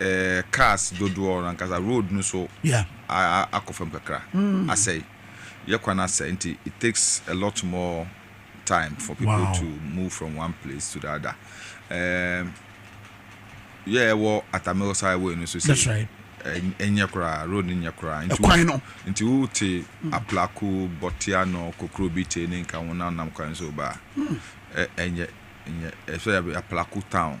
eh, cars dodoɔ no ankasa road no so yeah. akɔ fam kakra mm. asɛe yɛ kwan asɛe nti it takes a lot more time for people wow. to move from one place to the other um, yɛ ɛwɔ atamil highway no so sɛ ɛnyɛ koraa road no nyɛ koraa nti no nti wote mm. aplako bɔtea no kokoro bi te ne nka wo nanam kwan so ba ɛnyɛ ɛnyɛ ɛsɛ aplako town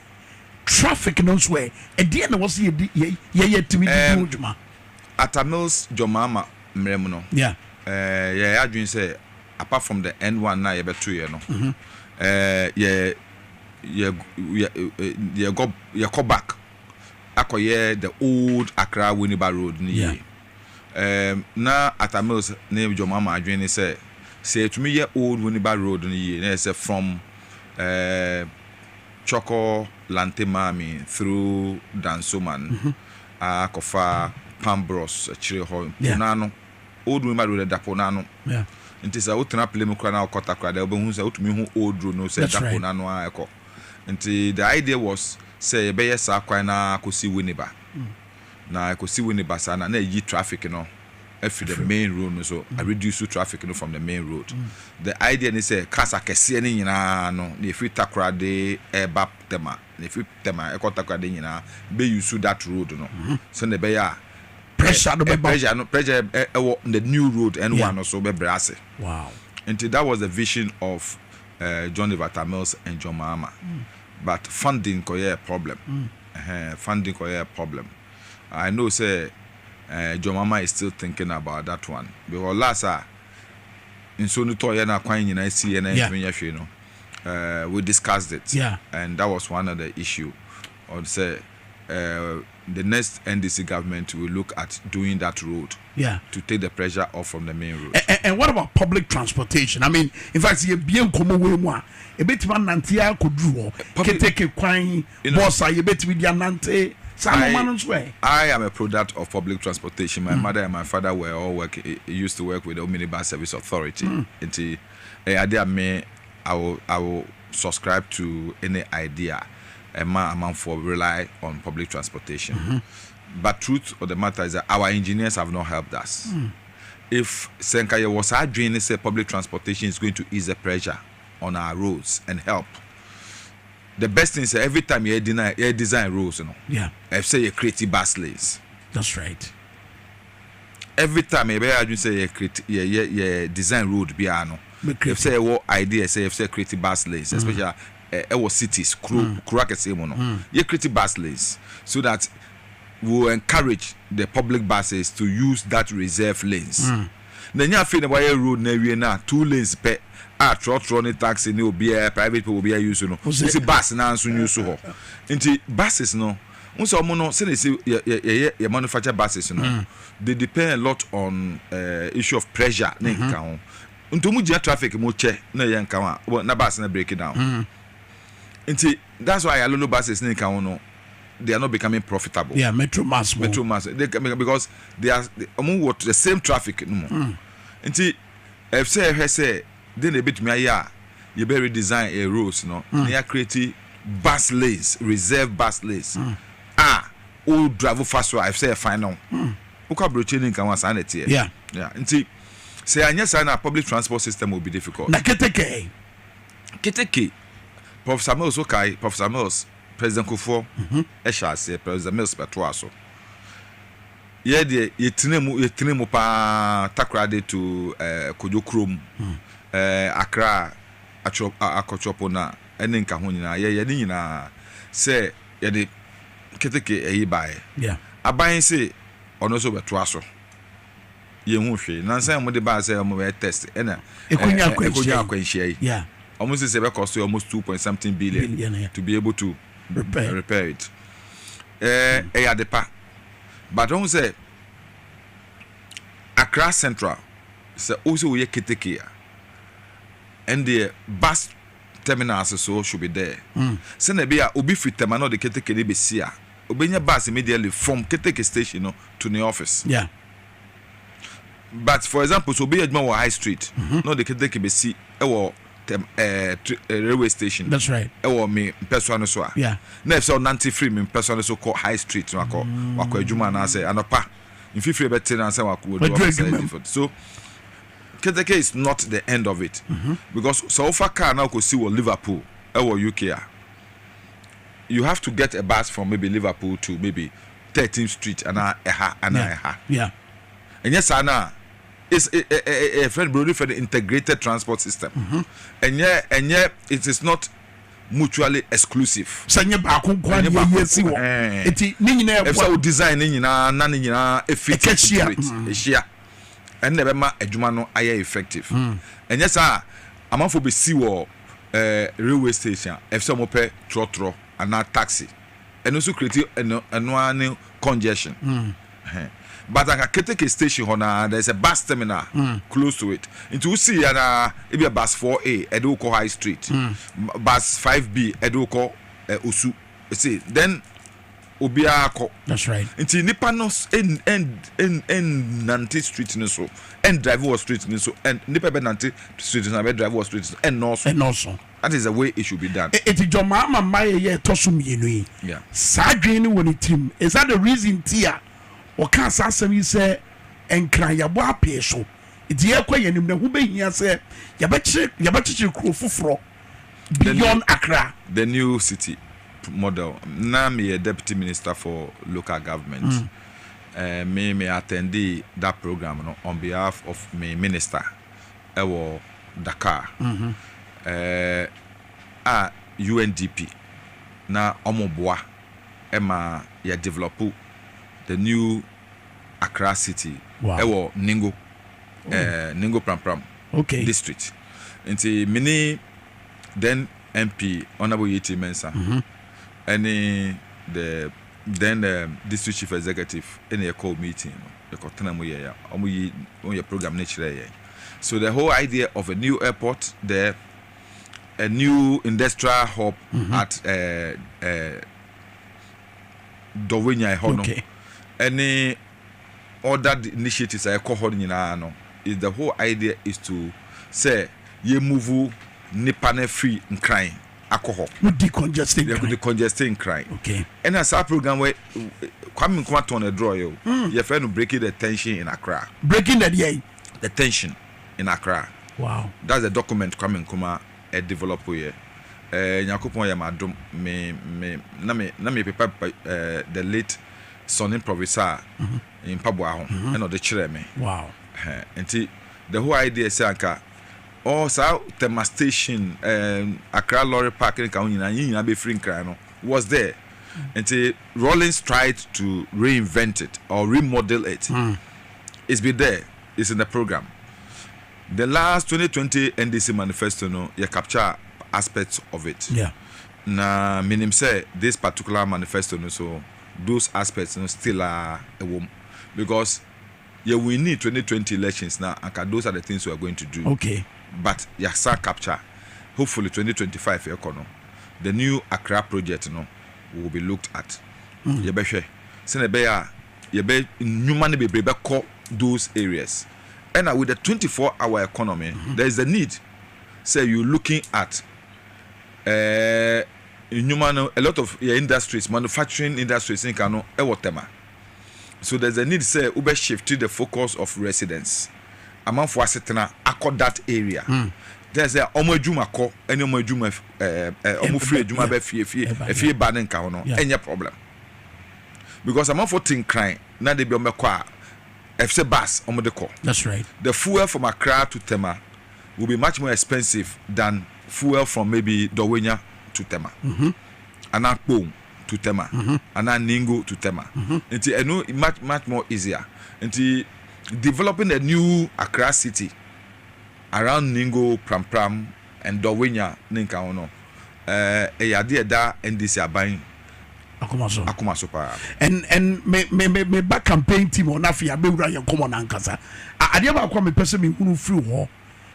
Traffic no nso ɛ, ɛdeɛn na ɛwɔ sɛ yɛdi yɛ yɛyɛ atumi de di ho dwuma? Atta Mills Gyɔmmaama mmerɛ mu no, yɛyɛ yɛn adwene sɛ apart from the N one no a yɛbɛtoeɛ no, yɛ yɛ yɛ yɛgɔ yɛkɔ back akɔyɛ the old Accra Winneba Road no yie. Na Atta Mills ne Gyɔmmaama adwene ne sɛ, sɛ yɛtumi yɛ old Winneba Road no yie na yɛ sɛ from ɛɛ. Choko lante maame through Dansoman ara kɔfa Pambros akyire hɔ, po no ano, Old Muhima Road ɛda po no ano nti sɛ wotena Plemu koraa na wokɔ Takoradi a wobɛhu sɛ wotumi hu Old Road no sɛ ɛda po no ano ara ɛkɔ. Nti the idea was sɛ yɛbɛyɛ saa kwan no ara akɔsi Winneba. na ɛkɔsi wo ne basaa no a, na ayi traffic no afiri the main road no so, a reduce traffic no from the main road. The idea ne sɛ cars akɛseɛ no nyinaa no, na ɛfiri Takoradi ɛreba Tema, na ɛfiri Tema ɛkɔ Takoradi nyinaa bɛ use that road no sɛdeɛ ɛbɛyɛ a Pressure no bɛba. pressure no pressure ɛ- ɛwɔ the new road N1 Yeah. no so bɛbrɛ ase. Wow. Nti that was the vision of eh, John River Tamils and John Mahama. But funding kɔyɛɛ problem. Ɛhɛn funding kɔ yɛɛ problem I know sɛ eh John Mahama is still thinking about that one because last a nsuo no tɔɔ yɛ na kwan nyinaa si yɛ na yɛntumi nyɛ hwee no eh we discussed it and that was one of the issue on sɛ eh the next NDC government will look at doing that road to take the pressure off from the main road. And, and what about public transportation? I mean, in fact, yɛ bie nkɔmɔ wei mu a ebetumi anante akɔduru hɔ keteke kwan. Bɔs a yɛbɛtumi de anante saa nnoɔma no nso ɛ? I am a product of public transportation, my mother and my father were all work, used to work with the Omnibus Service Authority, nti ɛyɛ adeɛ a me I will, I will subscribe to any idea a ɛma amanfoɔ rely on public transportation but truth of the matter is that our engineers have not helped us. If sɛ nka yɛwɔ saa adwene no sɛ public transportation is going to ease the pressure on our roads and help, The best thing sɛ every time yɛ deny yɛ design roles no ɛf sɛ yɛ create bus lanes that's right every time yɛ bɛ yɛ adwene sɛ yɛ create yɛ yɛ yɛ design road biara no ɛf sɛ yɛ wɔ idea sɛ yɛf sɛ create bus lanes mm. especially ɛwɔ eh, eh, eh, cities kuro mm. kuro akɛseɛ mu no mm. yɛ create bus lanes so that we will encourage the public buses to use that reserve lanes. Mm. na ɛnyɛ afei na wayɛ road no awie no a two lanes pɛ a trɔtrɔ ne taxi ne obiara private pɛ obiara use no wo sɛ bus no ara nso use hɔ nti buses no wo sɛ ɔmo no sɛdeɛ ɛsɛ yɛ yɛ yɛyɛ yɛ manufacture buses no they depend a lot on eh, issue of pressure ne nkeka ho nti ɔmo gyina traffic mu kyɛ na ɛyɛ nka ho a na bus no break down nti. That's why Ayalolo buses ne nka ho no they are not becoming profitable. Yeah, metro mass mo. Metro mass they because they are wɔn wɔ the same traffic no mu. Mm. Nti ɛsɛ ɛhwɛ sɛ de na ebetumi ayɛ a yɛbɛ redesign ɛ roads no mm. na yɛ create bus lanes reserve bus lanes mm. a o drive fa so a ɛsɛ yɛ fan no. Mm. Wokɔ aburokyire ne nka ho a saa na ɛteɛ. Yeah. Yeah. Nti sɛ anyɛ saa na public transport system will be difficult. Na keteke. Keteke, Professor Mills wo kae Professor Mills, President Kufuor hyɛ aseɛ, President Mills bɛtoaa so. Yɛ deɛ yɛtena mu yɛtena mu paa Takoradi to eh, Kojo Kurom, eh, Accra, Atwɔ, Akɔtwɔpona ɛne nka ho nyinaa. Yɛyɛ ne nyinaa sɛ yɛde keteke ɛyi baeɛ. Yeah. Aban se ɔno nso bɛtoa so. yɛnhu hwee. Nansa yi wɔde baa sɛ wɔbɛyɛ test na ɛkɔnya akwanhyia yi. Wɔn sɛ sɛ ɛbɛkɔ so yɛ almost two point something billion to be able to repair it. Ɛyɛ ade pa but wohu sɛ Accra Central sɛ wo sɛ woyɛ keteke a ɛndeɛ bus terminals so should be there. Hmm. Sɛnea ɛbɛyɛ a obi firi Tema na ɔde keteke no bɛsi a obɛnya bus immediately from keteke station no to ne office. Yeah. But for example sɛ obi yɛ adwuma wɔ high street mhm. na ɔde keteke bɛsi wɔ eh, eh, railway station ɛwɔ me mpɛsoa no so a na ɛfisɛ ɔnante firi me mpɛsoa no so kɔ high street no akɔ mm. wakɔ adwuma anaasɛ anɔpa mfifiri bɛte no ansa wakɔwɔduɔfasɛ so keteke is not the end of it mhm. because sɛ wofa car na wokɔsi wɔ liverpool ɛwɔ uk a you have to get a bus from maybe liverpool to maybe Thirteenth Street anaa ɛha anaa ɛha. Ɛnyɛ saa no a, it's ɛ ɛ ɛ ɛ fɛn buroni fɛn integrated transport system. Ɛnyɛ ɛnyɛ it is not mutually exclusive. Sɛ nye baako nko ara na yɛ si wɔ. Eti ne nyinaa ɛboa. Efisɛ o design ne nyinaa na ne nyinaa efit into it. Ehyia. Ɛno na ɛbɛma adwuma no ayɛ effective. Ɛnyɛ saa a, amanfoɔ besi wɔ ɛɛ railway station a, efisɛ wɔpɛ trɔtrɔ anaa taxi. ɛno nso create ɛno ɛno ara ne congestion mm. ɛhɛn but anka keteke station hɔ naa there is a bus terminal mm. close to it nti wosi yɛ naa ebi a bus four a ɛde wokɔ high street mm. bus five b ɛde wokɔ ɛ eh, osu ɛsɛ eh, then obiara kɔ that's right nti nipa no ɛn ɛn ɛn ɛn nante street no so ɛn drive wɔ street no so ɛn nipa bɛ nante street no so ɛn bɛ drive wɔ street no so ɛn nɔɔso ɛn nɔɔso. That is the way it should be done. E, enti John Mahama mmaeɛ yɛ ɛtɔ so mmienu yi, Yeah. saa adwene no wɔ ne tirim. Is that the reason nti a ɔkaa saa asɛm yi sɛ Nkran yɛabɔ apee so, nti yɛrekɔ yɛn anim na ɛho bɛhia sɛ yɛbɛkyere, yɛbɛkyekyere kuro foforɔ The new, beyond Accra? the new city p- model. Na meyɛ deputy minister for local government. Eh, me me attendee that program no on behalf of me minister. wɔ Dakar a UNDP na wɔn boa ma yɛ develop the new Accra city wɔ Ningo Ningo Pram Pram district nti me ne then MP Honourable Yetey Mensah ɛne the then district chief executive ɛna yɛ kɔɔ meeting no. yɛkɔtena mu yɛɛ wɔn yi wɔn yɛ program no kyerɛɛ yɛn so the whole idea of a new airport there a new industrial hub mm -hmm. at uh, uh, dɔwɛnya ɛhɔ no ɛne other initiatives a ɛkɔ hɔ no nyinaa no is the whole idea is to sɛ yɛ move nipa no afiri nkran akɔ hɔ. Mo di congesting kran. Yɛkɔ di congesting kran. Okay. Ɛna saa program wɛ Kwame Nkrumah tɔn na ɛdrɔ yɛ o. Mm. Yɛfrɛ no breaking the tension in Accra. Breaking the deɛ. The tension in Accra. Wow. That's the document Kwame Nkrumah ɛ eh, develop yɛ. Ɛɛ eh, Nyakopɔn yɛ ma dom me me na me na me pepa pepa ɛɛ eh, the late son improviser mm -hmm. mpaboa ho ɛna mm-hmm. ɔde kyerɛ me. Wow. Ɛhɛn nti the whole idea sɛ anka. Ɔɔ saa Tema station ɛɛ Accra lorry park ne ka ho nyinaa yɛn nyinaa bɛ firi Nkran no was there nti Rawlings tried to reinvent it or remodel it it's been there it's in the program the last twenty twenty NDC manifesto no yɛ capture aspects of it na me nim sɛ this particular manifesto no so those aspects no still a ɛwɔ mu because. yɛ winii twenty twenty elections na anka those are the things we are going to do okay but yɛasan capture hopefully twenty twenty five yɛkɔ no the new Accra project no will be looked at mm. yɛbɛhwɛ sɛnea ɛbɛyɛ a yɛbɛ nnwuma no bebree bɛkɔ those areas ɛna with the twenty four hour economy mm -hmm. there is a need sɛ you looking at ɛɛ eh, nnwuma no a lot of yɛ industries manufacturing industries nka no ɛwɔ tɛma. So there's a need sɛ wo bɛ shift the focus of residence amanfoɔ asetena akɔ that area then sɛ ɔmo adwuma kɔ ɛne ɔmo adwuma ɔmo firi adwuma bɛ fie fie efie ba ne nka ho no ɛnyɛ problem because amanfoɔ te nkran na de bi ɔmo bɛkɔ a ɛfisɛ bus ɔmo de kɔ that's right the fuel from Accra to Tema will be much more expensive than fuel from maybe Dɔwenya to Tema mm-hmm. anaa Kpong. to Tema anaa Ningo to Tema nti ɛno much much more easier nti developing a new Accra city around Ningo, Prampram and Dɔwenya ne nka ho no ɛyɛ eh, adeɛ ɛda NDC aban akoma so akoma so paa and and me me me me ba campaign team ɔno afei abɛwura yɛn nkɔmɔ no ankasa adeɛ baako a mepɛ sɛ mehunu firi hɔ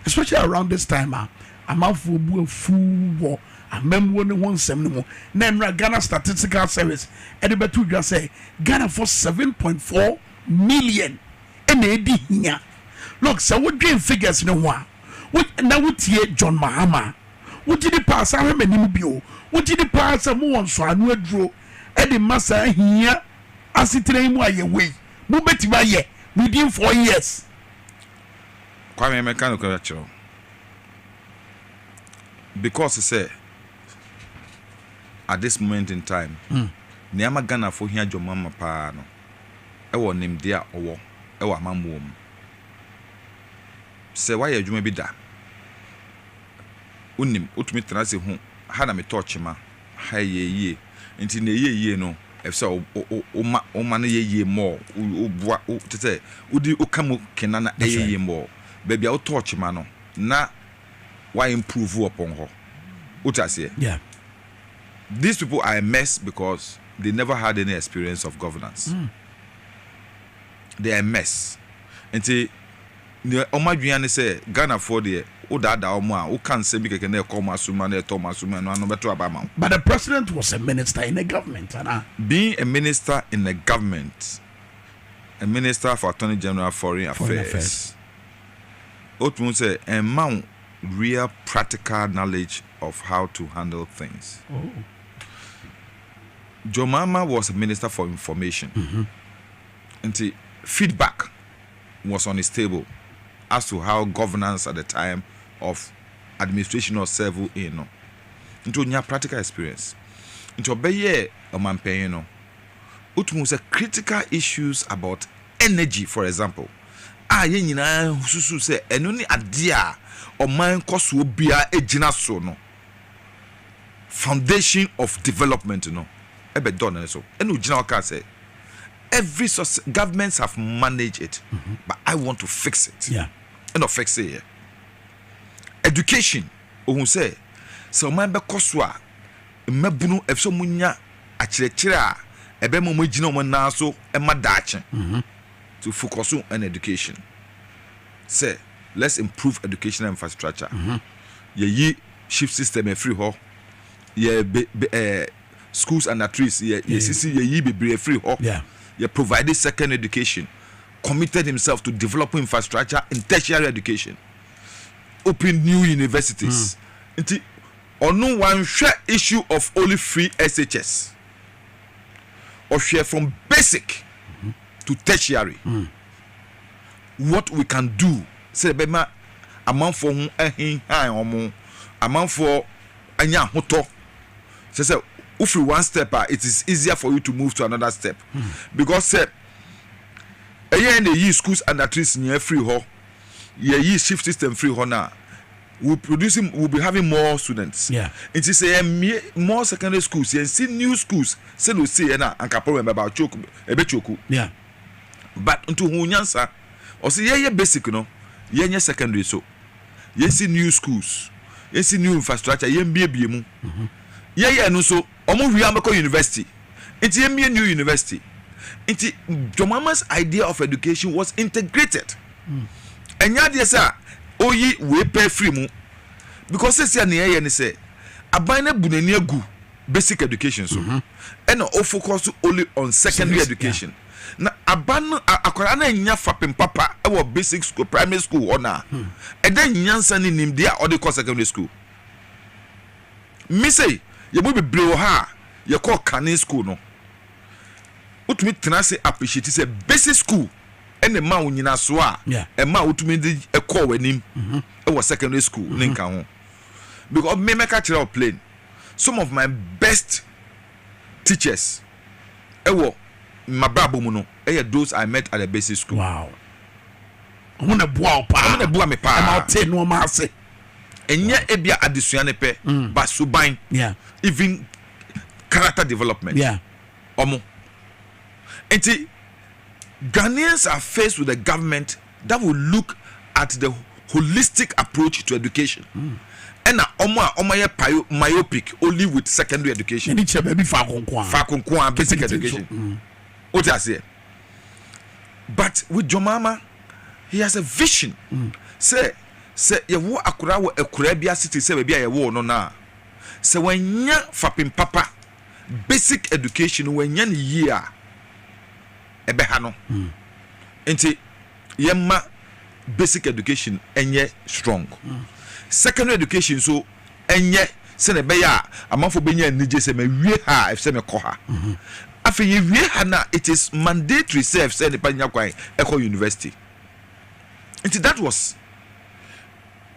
Especially around this time a amanfoɔ bu afuw wɔ amammuo no ho nsɛm no mu na nnora Ghana Statistical Service de bɛto dwa sɛ Ghanafoɔ seven point four million na ɛredi hia. Look, sɛ wodwen figures no ho a, wo, na wotie John Mahama a, wogye di paa, san hwɛ m'anim bio, wogye di paa sɛ mowɔ nsɔano aduro de ma saa hia asetena yi mu a yɛwɔ yi, mobɛtumi ayɛ within four years. Kwame, mɛka nokorɛ akyerɛ wo. Because sɛ, at this moment in time, nea ama Ghanafoɔ hia John Mahama pa ara no, wɔ nimdeɛ a ɔwɔ wɔ amammuo mu. Sɛ woayɛ adwuma bi da, wonim, wotumi tena ase hu, ha na metɔɔ kyema. ha yɛ yie. Nti nea ɛyɛ yie no, ɛsɛ sɛ woma woma no yɛ yie more, woboa, kyerɛ sɛ wodi woka mu ke na na ɛyɛ yie more. Baabi a wotɔɔ kyema no, na wa improve upon hɔ. Wote aseɛ? These people are a mess because they never had any experience of governance. They are a mess. Nti Deɛ wɔn adwene ara ne sɛ Ghanafoɔ deɛ wodaadaa wɔn a, woka nsɛm bi kɛkɛ na ɛkɔ wɔn asom mu na ɛtɔ wɔn asom mu a, ɛno ara no bɛto aba ama wo. But the president was a minister in a government anaa? Being a minister in a government, a minister for Attorney General Foreign Affairs, wotumi hu sɛ ɛmma wo real practical knowledge of how to handle things. John Mahama was a minister for information, nti feedback was on his table as to how governance at the time of administration of servo in no nti ɔnya practical experience nti ɔbɛyɛɛ ɔmanpanyin no wotumi hu sɛ critical issues about energy for example a yɛn nyinaa susu sɛ ɛno ne adeɛ a ɔman kɔsoɔ biara gyina so no foundation of development no bɛdɔɔ no so ɛna ogyina hɔ kaa sɛ every success governments have managed it mm -hmm. but I want to fix it yeah. ɛna ɔfix yɛ education ohun sɛ sɛ ɔman bɛkɔ so a mmabunu ɛfisɛ ɔmo nya akyerɛkyerɛ a ɛbɛn mu ɔmo agyina ɔmo nan so ɛma daakye mm -hmm. to focus on education sɛ let's improve educational infrastructure. Mm -hmm. Yɛyi ship system afiri hɔ. Yɛ be be ɛɛ schools under trees yɛ yɛsisi yɛyi bebree afiri hɔ. Yɛ provide second education committed himself to develop infrastructure in tertiary education open new universities nti ɔno wanhwɛ issue of only free SHS ɔhwɛ from basic to tertiary. what we can do sɛ yɛbɛma amanfoɔ ho ahinhan wɔn, amanfoɔ anya ahotɔ. Kyerɛ sɛ wofiri one step a it is easier for you to move to another step because sɛ ɛyɛ na yɛyi schools under trees nyinaa firi hɔ, yɛyi shift system firi hɔ no a we produce we will be having more students yeah. nti sɛ yɛmmie more secondary schools yɛnsi new schools sɛdeɛ ɔsieɛ no a anka problem bɛba choke ɛbɛchoku yeah. but nti ohun nyansa ɔse yɛyɛ basic no yɛnyɛ secondary so yɛnsi new schools yɛnsi new infrastructure yɛmbiebie mu yɛyɛ no so ɔmo hwie ambɛkɔ university nti yɛmbie new university nti Jomama's idea of education was integrated ɛnyɛ mm. adeɛ sɛ a oyi wei pɛ firi mu because sɛsi a nea ɛyɛ ne sɛ aban no abu n'ani agu basic education so mhm. ɛna o focus so only on secondary education na aba no akwadaa no anya fapem papa ɛwɔ basic school primary school hɔ na hmm. ɛdɛ nyansa ne nimdeɛ a ɔde kɔ secondary school mise yɛ mu bebree wɔ ha a yɛkɔ kane school no wotumi tena ase appreciate sɛ basic school ɛna ɛma wo nyinasoɔ a ɛma wotumi de ɛkɔɔ w'anim mhm. ɛwɔ secondary school ne mhm. nka ho because mmɛmɛka kyerɛ wo plain some of my best teachers ɛwɔ mabrabɔ mu no ɛyɛ those I met at the basic school. Wow. Ɔmo na ɛboa wo paa. Ɔmo na ɛboa me paa. Ɛma ɔte nneɛma ase. Ɛnyɛ ebia adesua ne pɛ. Mm. Ba suban. Yeah. Even character development. Yeah. Ɔmo. Nti Ghanaians are faced with a government that will look at the holistic approach to education ɛna wɔn a wɔayɛ pio myopic only with secondary education ɛni kyerɛ baabi faako nkoa faako nkoa basic Ketekete education nso, mm. o ti aseɛ but with jɔmaama he has a vision sɛ sɛ yɛwo akora wɔ akuraa bi ase te sɛ baabi a yɛwoo no no a sɛ wanya fapem papa basic education no wanya ne yie a ɛbɛha no nti yɛma basic education ɛnyɛ strong secondary education so ɛnyɛ sɛnɛ ɛbɛyɛ a amanfo bɛnya anigye sɛ mawie ha a ɛfisɛ mekɔ ha afei yɛwie ha no a it is mandatory sɛ ɛfisɛ nipa nya kwan ɛkɔ university nti that was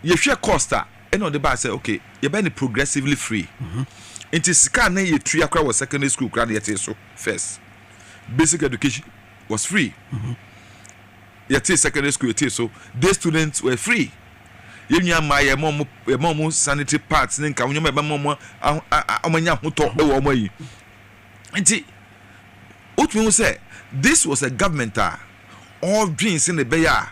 yɛhwɛ cost a ɛna ɔde baa sɛ okay yɛbɛ ne progressively free nti sika ne yɛtua kora wɔ secondary school kora ne yɛte so first basic education was free yɛtee secondary school yɛtee so day students were free yɛn nua mmaa yɛ ma wɔn yɛ ma wɔn sanitary pads ne nka wɔn nneɛma yɛ ma wɔn aho a a wɔn anya ahotɔ wɔ wɔn ayi nti wotumi ho sɛ this was a government a ɔredwen sɛ na ɛbɛyɛ a.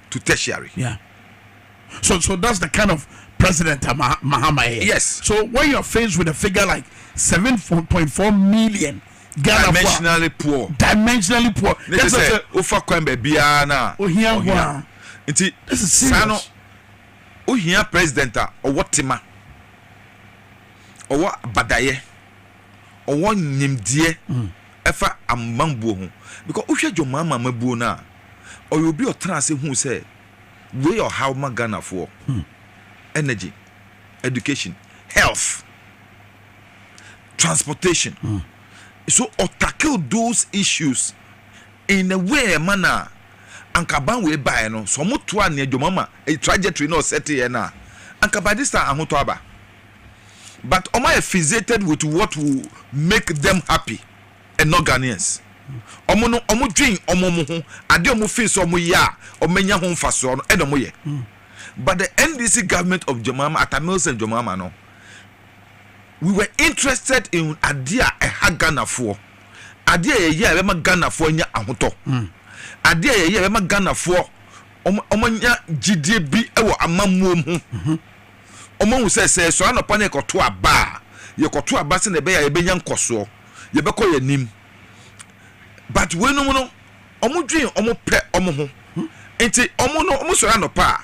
to tertiary. Yeah. So, so that's the kind of president uh, Mahama is. Yes. So when you're faced with a figure like 7.4 million Ghana dimensionally poor, dimensionally poor. Ne te sɛ ofa kwan baabi ara na ohia ohia. Nti saa no ohia president a ɔwɔ tema, ɔwɔ badayɛ. ɔwɔ nyimdzeɛ ɛfa amambuo ho because wohwɛ John Mahama amabuo no a ɔyɛ obi ɔtena ase huu sɛ wei yɛ ɔhaw ma Ghanafoɔ energy education health transportation so ɔtackle those issues in a way ɛma no a anka ban wei baeɛ no sɛ ɔmo toa nea John Mahama trajectory na ɔsɛteɛ no a anka by this time ahotɔ aba. but wɔn ayɛ fixated with what will make them happy and not Ghanaians. Wɔn no wɔn dwen wɔn wɔn ho ade a wɔn feel sɛ wɔn yɛ a wɔn anya ho nfasoɔ no ɛna wɔn yɛ. But the NDC government of John Mahama, Atta Mills and John Mahama no, we were interested in ade a ɛha Ghanafoɔ, ade a yɛyɛ a ɛbɛma Ghanafoɔ anya ahotɔ, ade a yɛyɛ a ɛbɛma Ghanafoɔ wɔn wɔn anya gyidie bi wɔ amammuo mu. wɔahu sɛ, sɛ yɛsɔre anɔpa na yɛkɔto aba a, yɛkɔto aba sɛnea ɛbɛyɛ a yɛbɛnya nkɔsoɔ, yɛbɛkɔ yɛn anim. But weinom no, wɔdwen wɔn pɛ wɔn ho. Nti wɔn no, wɔsɔre anɔpa a,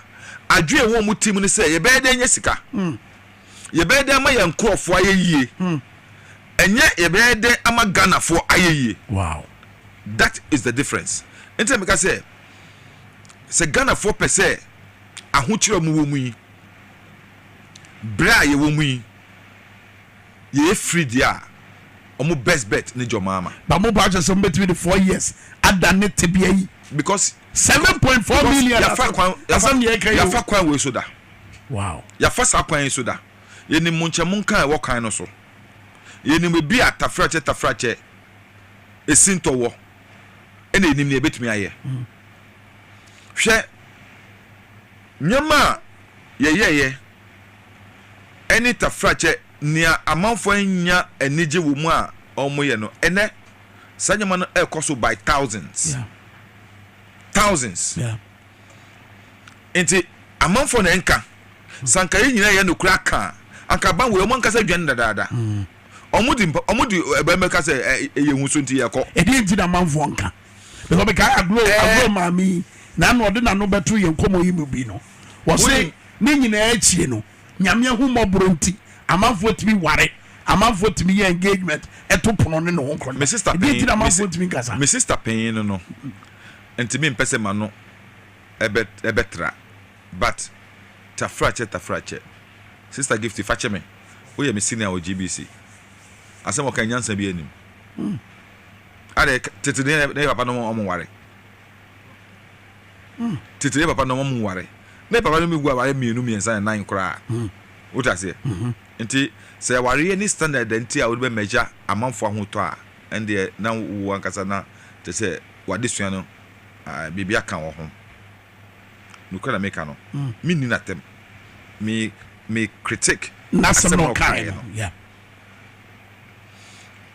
adwene a ɛwɔ wɔn tirim ne sɛ, yɛbɛyɛ dɛn anya sika? Yɛbɛyɛ dɛn ama yɛn nkurɔfoɔ ayɛ yie? Ɛnyɛ yɛbɛyɛ dɛn ama Ghanafoɔ ayɛ yie? Wow! That is the difference. Nti na meka sɛ, sɛ Ghanafoɔ pɛ sɛ, ahokyerɛ a mowɔ mu yi, berɛ a yɛwɔ mu yi, yɛyɛ firi deɛ a, ɔmo best bet ne Jɔmaama. But mo paa kyerɛ sɛ mo bɛtumi de four years ada ne tebea yi. Because. Seven point four million asɛm yafa kwan asɛm yɛ ka yi o. Yafa kwan wei so da. Wow. Yafa saa kwan yi so da. Yɛnim mo nkyɛn mo nka ɛwɔ kwan no so. Yɛnim ebi a tafrakyɛ tafrakyɛ esintɔ wɔ. Ɛna yɛnim nea yɛbɛtumi ayɛ. Mm. Hwɛ nneɛma a yɛyɛeɛ ɛne tafrakyɛ, nea amanfoɔ annya anigye wɔ mu a wɔyɛ no, ɛnnɛ saa nneɛma no ɛrekɔ so by thousands, thousands. Nti amanfoɔ na ɛnka, sɛ anka yɛ nyinaa yɛ nokorɛ aka a, anka aban wei wɔn ankasa adwane dadaada. Wɔn di wɔn di ɛbɛn bɛka sɛ ɛyɛ nhuso nti yɛkɔ. Ɛdeɛ nti na amanfoɔ nka? because mekae agorɔ eh. agorɔ maame yi na ano ɔde n'ano bɛto yɛn nkɔmmɔ yi mu bi no wɔse ne nyinaa akyie no nyame ahu mmɔborɔ nti amanfoɔ tumi ware amanfoɔ tumi yɛ engagement ɛto pono ne ne ho nkɔmmɔ me sister panyin ti na amanfoɔ tumi nkasa me sister panyin no no ntumi mpɛ sɛ ma no ɛbɛ ɛbɛtra but tafrakyɛ tafrakyɛ sister gift fakyɛ me woyɛ me senior wɔ gbc asɛm ɔka nyansa bi anim hmm. Adɛ tete ne yɛ ne yɛ papa nom ɔmo nware tete ne yɛ papa nom ɔmo nware ne papa nom gu aware mmienu mmiɛnsa ne nan koraa wote aseɛ nti sɛ awareɛ ne standard da nti a wode bɛ mɛgya amanfo ahotɔ a ɛndeɛ na wo ankasa na te sɛ wade sua no ɛɛ biribi aka wɔ ho nukura na meka no me nni na tɛm me me critic asɛm na ɔkaeɛ no.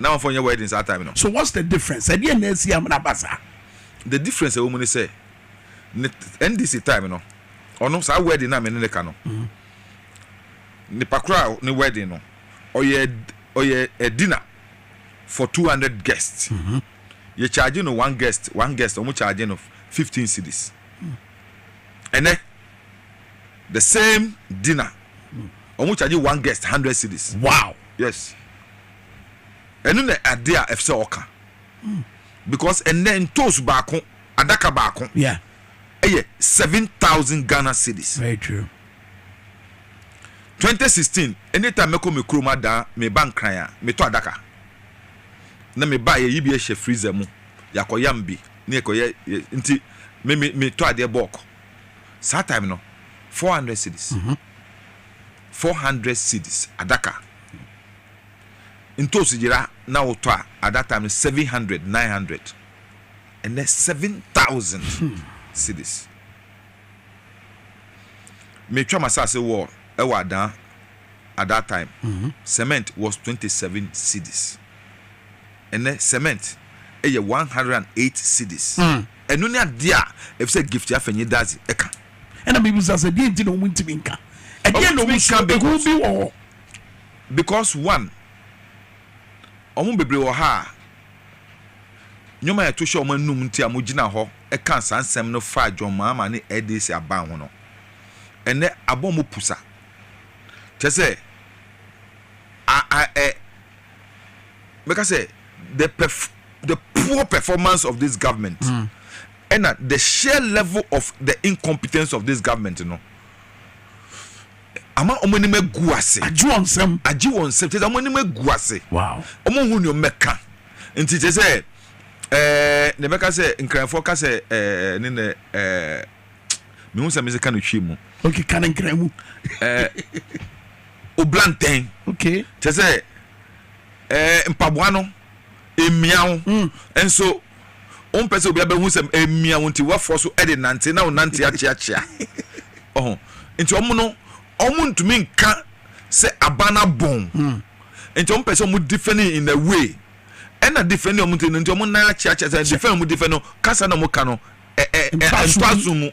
na amanfoɔ nyɛ wedding saa time no. So what's the difference? Ɛdeɛn na asi ama no aba saa? The difference a ɛwɔ mu ne sɛ, ne NDC time no, ɔno saa wedding no a me ne no ka no, nipa koro a ne wedding no, ɔyɛ ɔyɛ a dinner for two hundred guests. Mm-hmm. yɛ charge no one guest one guest ɔmo charge no fifteen cities ɛnɛ. the same dinner ɔmo charge one guest hundred cedis. wow yes ɛno na ade a ɛfisɛ ɔka hmm. because ɛnɛ ntoos baako adaka baako yeah ɛyɛ seven thousand ghana cedis. very true. twenty sixteen anytime mɛkɔ me kurom adaa me ba nkran a metɔ adaka na me ba yɛyi bi ɛhyɛ freezer mu yɛakɔyam bi ne yɛkɔyɛ nti me me metɔ adeɛ bɔɔk. saa time no four hundred cedis four hundred cedis adaka ntosi yera na wotɔ a at that time no seven hundred nine hundred ɛnɛ seven thousand cedis metwa masase wɔ ɛwɔ adan at that time cement was twenty seven cedis ɛnɛ cement ɛyɛ one hundred and eight cedis. Mm. Ɛno ne adeɛ a ɛfiri sɛ gift afa nyi dadze ɛka. Ɛna me bisa sɛ deɛ nti na ɔmo ntumi nka? Ɛdeɛ na ɔmo suro? Ehu bi wɔ hɔ? Because one, ɔmo bebree wɔ ha a nnoɔma a yɛto hyɛ ɔmo anum nti a mogyina hɔ ka saa nsɛm no fa John Mahama ne LDC aban ho no, ɛnɛ abɔ ɔmo pusa. Kyerɛ sɛ, a a ɛ. mɛka sɛ the perf the poor performance of this government mm. ɛna the sheer level of the incompetence of this government no ama wɔn anim agu ase agye wɔn nsɛm agye wɔn nsɛm kyerɛ sɛ wɔn anim agu ase wɔn ho nneɛma mɛka nti kyerɛ sɛ ɛɛ na ɛbɛka sɛ nkranfoɔ ka sɛ ɛɛ ne nɛ ɛɛ. mehu sɛ mese ka no twi mu okay ka no nkra mu eh, obla ntɛn okay kyɛ sɛ eh, mpaboa no mmia wo mm. nso wompɛ sɛ obi abɛhu sɛ mmia wo nti woafoɔ so de nante na wo nante akyeakyea ɔho nti ɔmo no ɔmo ntumi nka sɛ aban abɔn hmm. nti ɔmo pɛ sɛ ɔmo defending in a way ɛna defending ɔmo nti ɔmo nan akyeakyea sɛ defend ɔmo defend no kasa na ɔmo ka no ntoaso mu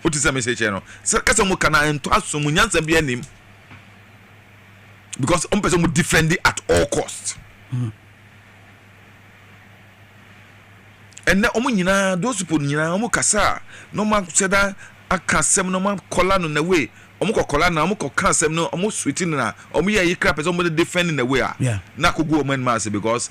o ti sɛ mese kyerɛ no sɛ kasa mu kana ntoaso mu nyansa bi anim because ɔmo pɛ sɛ ɔmo defend at all cost ɛnɛ ɔmo nyinaa those people nyinaa ɔmo kasa a na ɔmo ahyɛ da aka asɛm na ɔmo akɔla no na wei ɔmo kɔ kɔla na ɔmo kɔ ka asɛm no ɔmo suwiti no na ɔmo yɛ ayi kra pɛ sɛ ɔmo defend na wei a na akogu ɔmo anim ase because.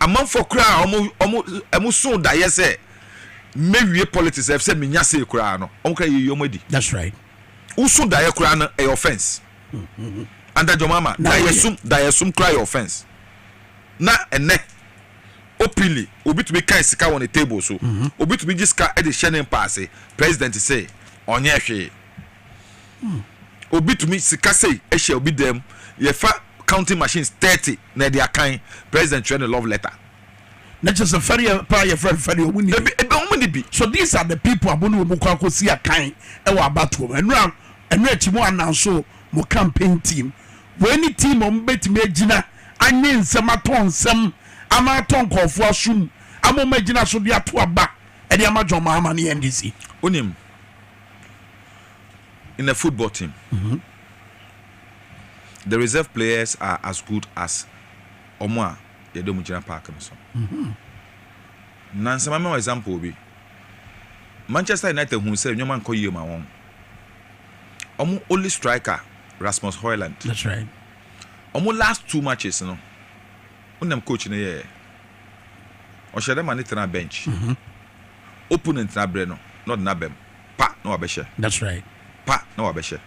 Amanfoɔ koraa a wɔn wɔn wɔn soo daeɛ sɛ mɛwie politics ɛfiri sɛ menya say koraa no wɔn koraa yɛyi wɔn adi. That's right. Woso daeɛ koraa no ɛyɛ offence. Under John Mahama Na daeɛ woyɛ. sum daeɛ sum koraa yɛ offence. Na ɛnɛ openly obi tumi kan sika wɔ ne table so. Obi tumi gye sika de hyɛ ne mpaase president se ɔnyɛ hwee. obi tumi sika sei hyɛ obi dam yɛfa counting machines thirty na ɛde akan president twerɛ ne love letter. na kyerɛ sɛ fɛdeɛ paa yɛ fɛn fɛdeɛ ɔmo ni bi ebe ɔmo ni bi. so these are the people abo ne ɔmo kɔ akɔ si akan ɛwɔ abatoɔ mu ɛno a ɛno akyi mo ananso mo campaign team wei ne team ɔmo bɛtumi agyina anwe nsɛm atɔn nsɛm ama atɔ nkɔɔfoɔ asom ama ɔmo agyina so de ato aba ɛde ama John Mahama ne NDC. Wonim. In a football team, the reserve players are as good as wɔn a yɛde wɔn gyina park no so. Nnansa mɛma wo example bi. Manchester United huu sɛ nneɛma nkɔ yie ma wɔn. Wɔn only striker Rasmus Hojlund. That's right. Wɔn last two matches no, wonam coach no yɛɛ. Ɔhyɛ dɛ ma ne tena bench. Opponent no abrɛ no na ɔde no abam. Pa na wabɛhyɛ. That's right. Pa na wabɛhyɛ.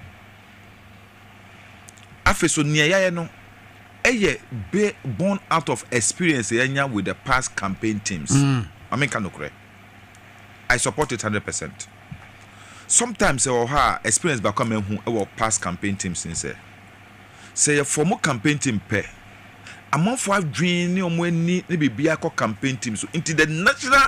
Afei so nea yɛayɛ no ɛyɛ born out of experience yɛanya with the past campaign teams. Mm. Maame nka nokorɛ. I support it hundred percent. Sometimes ɛwɔ hɔ a experience baako a mahu ɛwɔ past campaign teams ne sɛ sɛ yɛ form campaign team pɛ amanfoɔ adwene ne wɔn ani ne biribi akɔ campaign team so nti the national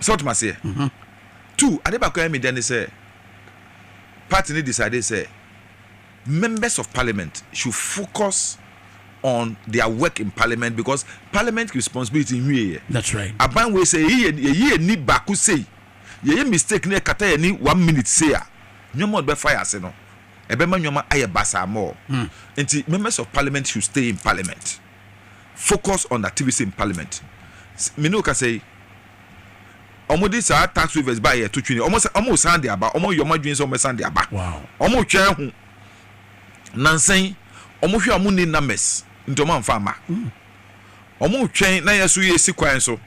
So wote m'aseɛ? Two, ade baako a ɛyɛ me dɛ ne sɛ party no decidee sɛ members of parliament should focus on their work in parliament because parliament responsibility nhwieeɛ. That's right. Aban wei sɛ yɛyi yɛ- yɛyi yɛn ni baako sei, yɛyɛ mistake na ɛkata yɛn ni one minute sei a, nneɛma a ɔde bɛfa yɛn ase no, ɛbɛma nneɛma ayɛ basaa more. Nti members of parliament should stay in parliament. focus on activities in parliament me ne wo kasa yi wɔn de saa tax waivers ba yɛ to twene wɔn sa wɔn san de aba wɔn yɛ wɔn adwene sɛ wɔn san de aba wɔn retwɛn ho nansan wɔn hwɛ wɔn ni numbers nti wɔn anfa ama wɔn retwɛn na yɛ so yɛ si kwan so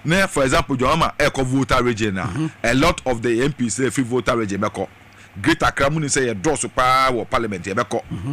na for example jɔn ama ɛkɔ volta region na mm-hmm. a lot of the mps na efi volta region bɛkɔ great accra mu ni sɛ yɛ dɔɔso paa wɔ parliament yɛ bɛkɔ. Mm-hmm.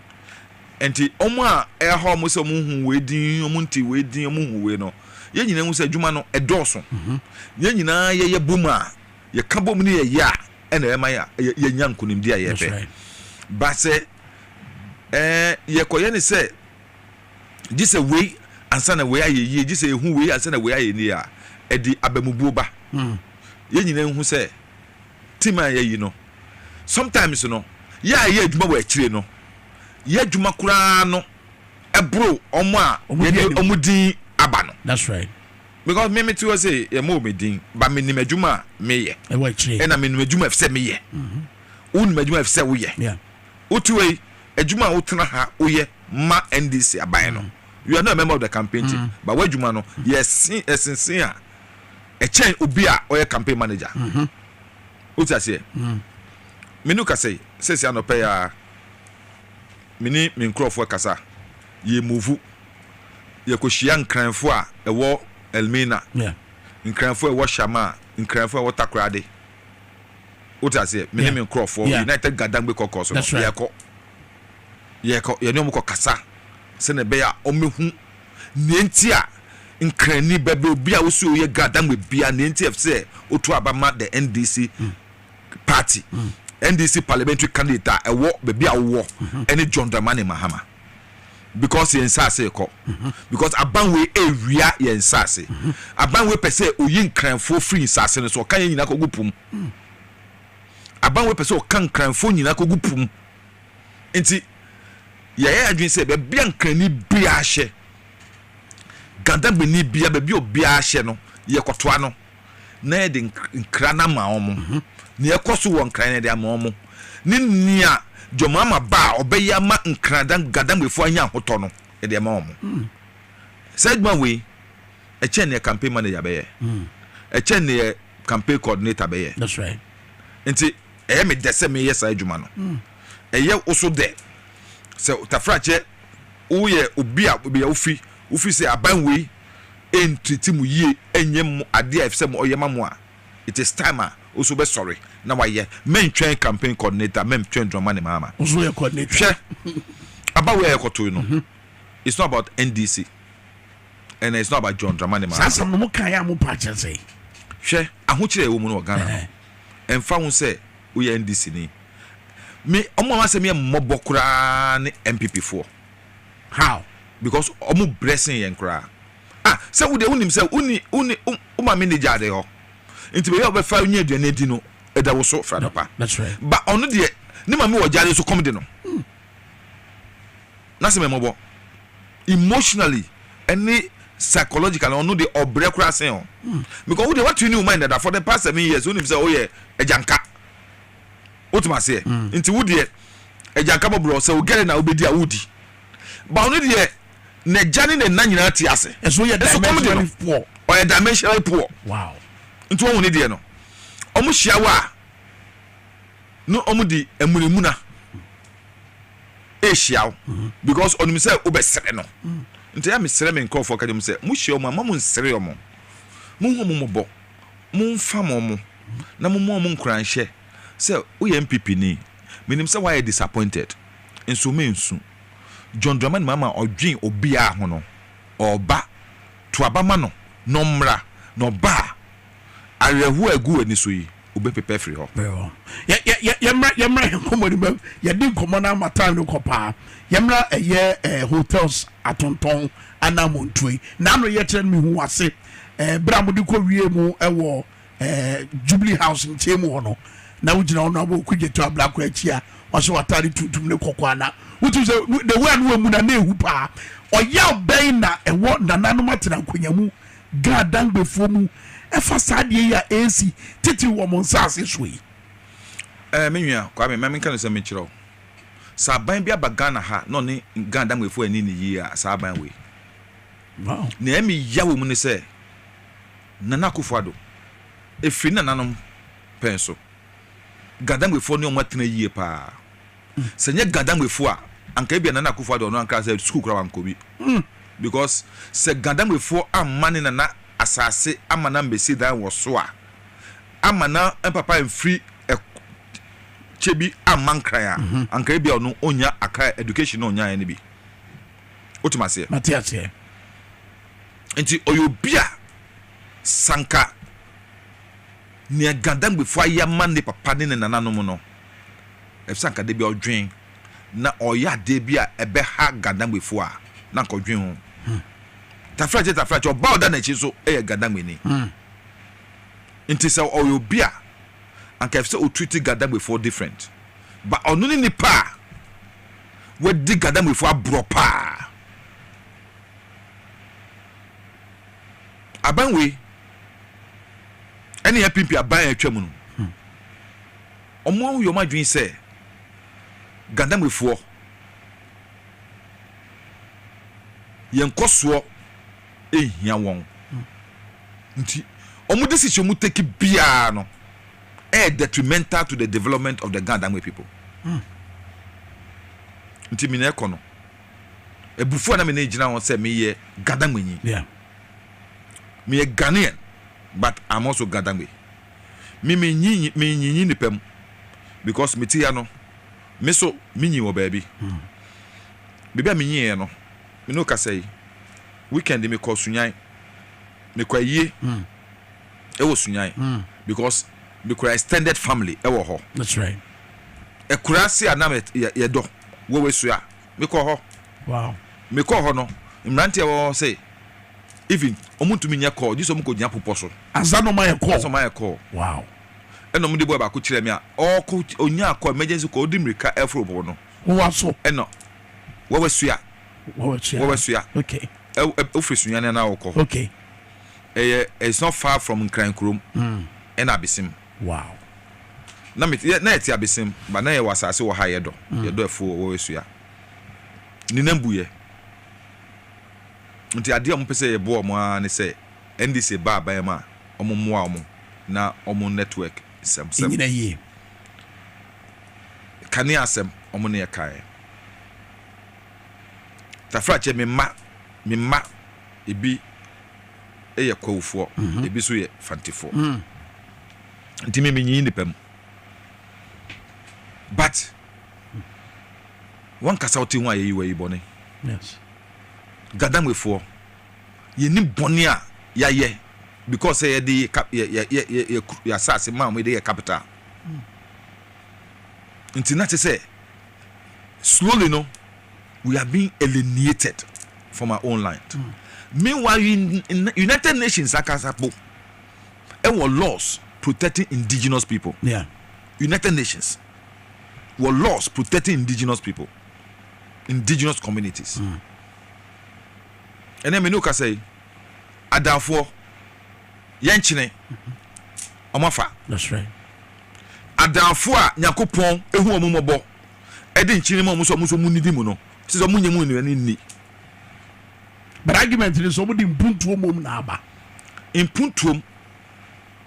Nti ɔmo a ɛha ɔmo sɛ ɔmo hu wei din, ɔmo nte wei din, ɔmo hu wei no, yɛn nyinaa hu sɛ adwuma no ɛdɔɔso. Yɛn nyinaa yɛyɛ bom a, yɛka bom ne yɛyɛ a, ɛna ɛma yɛnya nkunimdi a yɛpɛ. Ba sɛ ɛɛ yɛkɔyɛ ne sɛ gye sɛ wei ansa na wei ayɛ yie, gye sɛ ehu wei ansa na wei ayɛ yie a, ɛde abamubuo ba. Yɛn nyinaa hu sɛ. team a yɛayi no, sometimes no yɛ a yɛyɛ adwuma wɔ akyire no, yɛ adwuma koraa no ɛboro wɔn a yɛde wɔn din aba no. That's right. Because me mete hɔ sɛ yɛma wɔ me din ba menim adwuma a meyɛ. Ɛwɔ akyire. Ɛna menim adwuma ɛfisɛ meyɛ. Mhm. Wonim adwuma ɛfisɛ woyɛ. Yeah. Wote wei adwuma a wotena ha woyɛ ma NDC aban no. Mm. You are not a member of the campaign team. Mm. But w'adwuma no yɛsen ɛsensen a ɛkyɛn obi a ɔyɛ campaign manager o ti aseɛ menu kasa yi sɛsi anɔpɛ ya me ne me nkurɔfoɔ kasa yɛ move yɛkɔ hyia nkranfoɔ a ɛwɔ Elmina nkranfoɔ a ɛwɔ Shama nkranfoɔ a ɛwɔ Takoradi o ti aseɛ me ne me nkurɔfoɔ United Gadangbe kɔkɔɔ so no yɛkɔ yɛkɔ yɛne wɔn kɔ kasa sɛnɛ ɛbɛyɛ a wɔn bɛ hu. Nea enti a Nkrani bɛbɛ obi a wosi oyɛ Gadangme bia nea enti a ɛfsɛ sɛ otu aba ma the NDC party, NDC parliamentary candidate a ɛwɔ baabi a wowɔ ɛne John Dramani Mahama because yɛn nsaase rekɔ because aban wei ɛrewia yɛn nsaase. Aban wei pɛ sɛ oyi Nkranfoɔ firi nsaase no so, ɔka yɛn nyinaa kɔgu po mu. Aban wei pɛ sɛ ɔka Nkranfoɔ nyinaa kɔgu po mu. Enti yɛayɛ adwene sɛ baabi a Nkrani biara hyɛ, Gadameni biara, baabi a obiara hyɛ no, yɛkɔtoa no na yɛde nkra no ama wɔn. Mhm. Nea ɛkɔ so wɔ nkra no yɛde ama wɔn ne nea Dwamama ba a ɔbɛyɛ ama nkra Gadamefo anya ahotɔ no yɛde ama wɔn. Mm. Saa adwuma wei ɛkyɛn nea campaign manager bɛyɛ. Mm. Ɛkyɛn nea campaign coordinator bɛyɛ. That's right. Nti Ɛyɛ me dɛ sɛ meyɛ saa adwuma no. Ɛyɛ wo nso dɛ? Sɛ Tafrakyɛ woyɛ obi a baabi a wufi, wufi sɛ aban wei ntreat mo yie, ɛnyɛ mo adeɛ a ɛfɛ sɛ ɔyɛ ma mo a, it is time a wo nso wobɛsɔre na wayɛ. Mɛntwɛn campaign coordinator, mɛntwɛn Dramani Mahama. Wo nso woyɛ coordinator. Hwɛ, aba wei a yɛkɔtoe no, it's not about NDC and it's not about John Dramani Mahama. Saa asɛm no mo kaeɛ a mo paa kyerɛ sɛn? Hwɛ, ahokyerɛ a ɛwɔ mu no wɔ Ghana no. ɛmfa ho sɛ woyɛ NDC ni. Me wɔn a m'asɛm yɛ me mmɔbɔ koraa ne NPP foɔ. How? Because wɔn brɛ sen yɛn koraa. Ah, sɛ wo deɛ wonim sɛ woni woni wo wo maame nni gya ade hɔ. Nti baabi a wobɛfa nya aduane adi no ɛda wo so Fradɔkwa. That's right. Ba ɔno deɛ ne maame wɔ gya ade so kɔm de no. N'ase ma mmɔbɔ emotionally ɛne psychologically ɔno deɛ ɔbrɛ koraa sen ɔ because wo deɛ watu ne wo mind dada for the past seven years wonim sɛ woyɛ agyanka wotumi aseɛ nti wo deɛ agyanka bɔborɔ sɛ wo gɛre na wobɛdi a wodi ba ɔno deɛ n'agya ne ne nna nyinaa te ase ɛso yɛ dimensionally poor ɔyɛ dimensionally poor wow nti wɔn ne deɛ no wɔn hyia wɔ a no ɔmo de amunamuna ehyia wo mhm. because ɔnim sɛ wobɛsrɛ no mhm. nti a mesrɛ me nkurɔfoɔ ka kyɛ mu sɛ mohyia ɔmo a ma mo nsere ɔmo monhu ɔmo mmɔbɔ momfa mo ɔmo na momma ɔmo nkuranhyɛ sɛ woyɛ npp ni menim sɛ woayɛ disappointed nso mensu john dramani mama ɔdwen obiara ho no ɔba to aba ma no na ɔmmra na ɔba a Awerɛhoɔ a ɛgu w'ani so yi, wobɛpepa afiri hɔ. Yɛmmra yɛmmra yɛn nkɔmmɔ no bam yɛde nkɔmmɔ no ama time no kɔ paa yɛmmra ɛyɛ eh, hotels atontɔn anaa montuo yi naano yɛkyerɛ no mehu ase eh, berɛ a mode kɔ wie mu ɛwɔ eh, jubilee house nkyɛn mu hɔ no na wogyina hɔ no abɔ okudwato ablako akyi a ɔhyɛ w'atade tuntum ne kɔkɔɔ ana wotum sɛ the way a no wamu na na ehu paa ɔyaw bɛn na ɛwɔ nananom atena nkonnwa mu Ghana Dangbefoɔ mu ɛfa saa adeɛ yi a ɛresi titiriw wɔ wɔn nsaase soɔ yi? Ɛɛ, me nua Kwame, ma menka nokwasɛm bi nkyerɛ wo. Sɛ aban bi aba Ghana ha na ɔne Ghana Dangbefoɔ anni no yie a, saa aban wei, Wow! nea ɛyɛ me ya wɔ mu ne sɛ, Nana Akufo-Addo, ɛfiri ne nananom pɛn so, Ghana Dangbefoɔ ne wɔn atena yie pa ara. sɛ nyɛ Gadambefoɔ a anka ebia Nana Akufo Addo ɔno ankara sɛ sukuu koraa wankɔ bi because sɛ Gadambefoɔ amma ne Nana asaase ama no ammɛsi dan wɔ so a, amma na papa amfiri kyɛ bi amma Nkran a, anka ebia ɔno ɔnnya Accra education na ɔnyaeɛ no bi. Wotem aseɛ? Mate aseɛ. Nti ɔyɛ obi a sɛ anka nea Gadambefoɔ ayɛ ama ne papa ne ne nananom no, Efisɛ anka da bi a ɔdwen na ɔyɛ adeɛ bi a ɛbɛha Gandangmefoɔ a, na anka ɔdwen ho. Tafra kyɛ tafra kyɛ, ɔbaa a ɔda n'akyi nso yɛ Gandangmeni. Nti sɛ ɔyɛ obi a, anka ɛfisɛ ɔtreati Gandangmefoɔ different. But ɔno ne nipa a wadi Gandangmefoɔ aborɔ paa. Aban wei ɛne yɛn pimpi aban a atwam no. Wɔahu yɛ wɔn adwene sɛ Ghanamrifoɔ. Yɛn nkɔsoɔ nhia wɔn. Nti wɔn decision a wɔn take biara no ɛyɛ detrimental to the development of the Ghanamri people. Nti me na ɛkɔ no, abufuo a na me na egyina ho sɛ me yɛ Ghanamrinyi. Me yɛ Ghanaian but I'm also Ghanamri. Me me nyi nyi me nyi nyi nipa mu because me ti ya no me so me nyi wɔ baabi baabi a me nyi yɛ no me ne okasa yi weekend me kɔ sunyan me kɔ ayie ɛwɔ sunyan because me kura extended family ɛwɔ hɔ ɛkura se a na me yɛ dɔ wɔ wɔ esua. mekɔɔ hɔ wow mekɔɔ hɔ no mmeranteɛ a wɔwɔ hɔ se even wɔn ntumi nyɛ call gye sɛ wɔn kɔ gyina popɔ so ansa na wɔn ayɛ call ansa wɔn ayɛ call wow ɛna wɔn de boy baako kyerɛ mi a ɔɔkɔ onyaa call emergency call ɔdi mmirika ɛforo popɔ no wɔwɔ so ɛna wɔwɔ sua wɔwɔ sua wɔwɔ sua okay ɛ ofiri sunyani na ɔkɔ okay ɛyɛ it's not far from nkran kurom ɛna abesim. Wow. Na me yɛ na yɛte abesem ba na yɛwɔ asase wɔ ha yɛdɔ mm. yɛdɔ ɛfo wɔ esua ne nan bu yɛ nti adeɛ a wɔn pɛ sɛ yɛboa wɔn ara ne sɛ ndc ba aban mu a wɔn mmoa wɔn na wɔn network nsɛmsɛm nyina yie kane asɛm wɔn ne ɛka yɛ tafrakyɛ me mma me mma ebi. yɛ kwawufoɔ, ebi nso yɛ fantefoɔ. Nti me menyiyi nnipa mu. But wankasa wote ho a yɛyi wayi bɔne. Gadangbefoɔ, yɛnim bɔne a yɛayɛ because sɛ yɛde yɛ asase ma wɔn de yɛ capital. Nti na te sɛ slowly no we are being alienated from our own land mm. meanwhile united nations akasa po ɛwɔ laws protecting indigenous people yeah. united nations wɔ laws protecting indigenous people indigenous communities mm. ɛnɛ mene wokasa yi adanfoɔ yɛnkyene mm -hmm. ɔmo afa. Adaafoɔ a Nyakopɔn ahu ɔmo mmɔbɔ ɛde nkyene ma ɔmo sɛ ɔmo nso ɔmo nnidi mu no, ɛsɛ sɛ ɔmo nyɛ mu nnuane nni. But argument no sɛ ɔmo de mpuntuo mmom na aba. Mpuntuom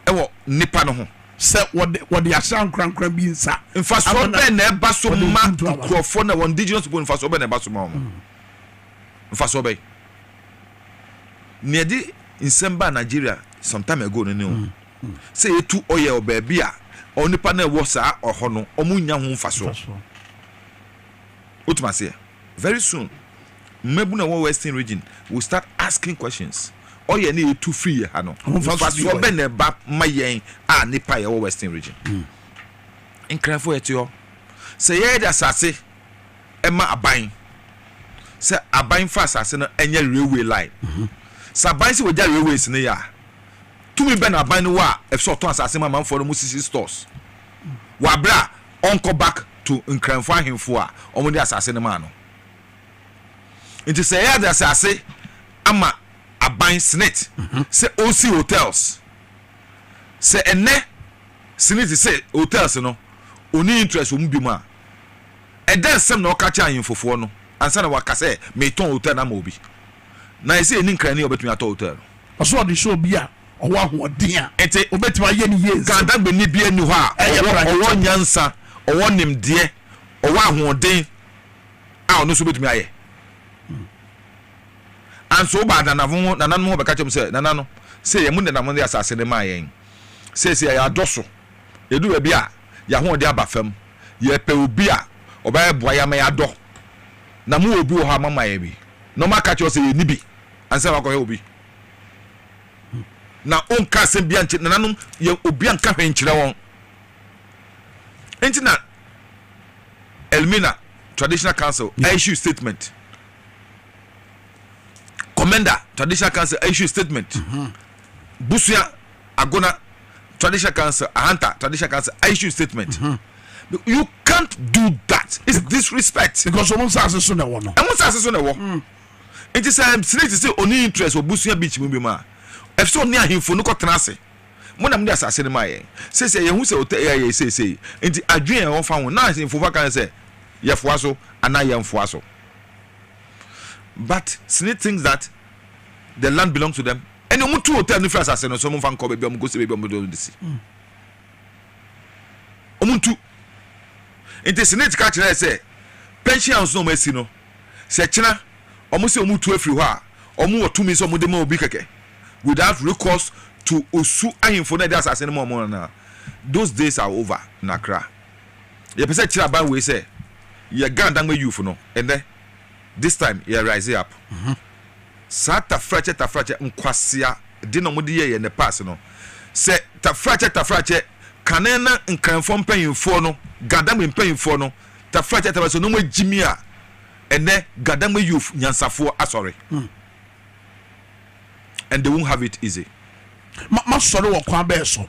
ɛwɔ nnipa no ho. Sɛ wɔde wɔde asra nkorankora bi nsa. Mfasoɔ bɛn na ɛba so ma nkurɔfoɔ na wɔn indigenous people mfasoɔ bɛn na ɛba so ma wɔn? Mfasoɔ bɛn? Nea ɛde nsɛm baa Nigeria some time ago no ne o sɛ yɛtu ɔyɛ wɔ baabi a onipa no a ɛwɔ saa ɔhɔ no wɔnnya ho mfasoɔ. Wotumi aseɛ? Very soon mmabunu a ɛwɔ western region will start asking questions, ɔyɛ no a yɛtu firi yɛ ha no mfasoɔ bɛn na ɛba ma yɛn a nnipa a yɛwɔ western region? Nkranfoɔ yɛte hɔ sɛ yɛyɛ de asase. ma aban sɛ aban fa asase no nyɛ railway line. Sɛ aban sɛ wɔgya railways no yɛ a, tumi bɛn na aban no wɔ a ɛsɛ sɛ ɔtɔn asase ma amanfoɔ no mu sisi stores wɔ aberɛ a ɔnkɔ back to Nkranfoɔ ahemfo a wɔde asase no maa no? Nti sɛ yɛde asase ama aban, Senate, sɛ ɔnsi hotels, sɛ ɛnnɛ Senate se hotels no ɔnni interest wɔ mu biom a, Ɛdɛn nsɛm na ɔka kyerɛɛ ahemfofoɔ no ansa na waka sɛ, Meretɔn otɛl no ama obi? Na ayɛ sɛ yɛnni nkra ni a ɔbɛtumi atɔ otɛl no. Ɔsɛ sɛ ɔde hyɛ obi a ɔwɔ ahoɔden a Enti, ɔbɛtumi ayɛ no yie nsam. Kadagbeni biara nni hɔ a Ɛyɛ ɔwɔ prɛko ɔwɔ kyɛ. nyansa, ɔwɔ nimdeɛ, ɔwɔ ahoɔden a ɔno nso bɛtumi ayɛ. And so wobaa nanafo ho, nananom hɔ bɛka kyerɛ mo sɛ, Nananom, seesei yɛn mo nenam de asase no maa yɛn. Seesei yɛadɔso. Edu baabi a, yɛn ahoɔden aba fam. Yɛpɛ obi a ɔbɛboa yɛn ama yɛadɔ. Na mowɔ obi wɔ hɔ a, moama yɛn bi? Na wɔaka akyerɛ wo sɛ yenni bi ansa na woakɔhwɛ obi? Na wonkaa asɛm biara nkyerɛ nananom, yɛn obi anka hwee nkyerɛ wɔn. Enti na Elmina Traditional Council aissue statement. Commenda Traditional Council aissue statement. Busua Agona Traditional Council, Ahanta Traditional Council, I issue statement. Mm-hmm. You can't do that. It's disrespect. Because ọmọ nsaase so na ẹwọ no. Ẹmu nsaase so na ẹwọ. Mm. Nti sẹ snake sẹ oni interest wọ busua beach mu bi mu a, ẹfisẹ ọni ahemfo no kọ tena ase. Mo na mo de asaase no ma yẹn. Sese yẹn ho sẹ ọtẹ ẹyà yẹ sese. Nti adwene yẹn ọfa ho na ahemfo fa kan sẹ yẹ foa so anaa yẹn foa so. But snake thinks that the land belongs to them. Ɛnna wɔtu hotel no firi asase no so, wɔmfa nkɔ baabi a wɔkɔsi baabi a wɔde wɔn bɛsi. Wɔntu. Nti Senate ka kyerɛɛ sɛ pension house no a wɔasi no, sɛ kyena wɔsɛ wɔtu afiri hɔ a, wɔwɔ tumi sɛ wɔde ma obi kɛkɛ without recourse to Osu ahemfo no a ɛde asase no ma wɔn no anaa. Those days are over in Accra. Yɛpɛ sɛ kyerɛ aban wei sɛ yɛn Ghana Dangme youth no, ɛnnɛ, This time yɛ rise up saa tafrakyɛ tafrakyɛ nkwasea de na wɔde yɛyɛ ne pass no sɛ tafrakyɛ tafrakyɛ kane na nkranfoɔ mpanyinfoɔ no gadam mpanyinfoɔ no tafrakyɛ tafrakyɛ na wɔn agyimi a ɛnɛ gadam youth nyansafoɔ asɔre hmm. and they won't have it easy. Ma ma sɔre wɔ kwan bɛɛ so.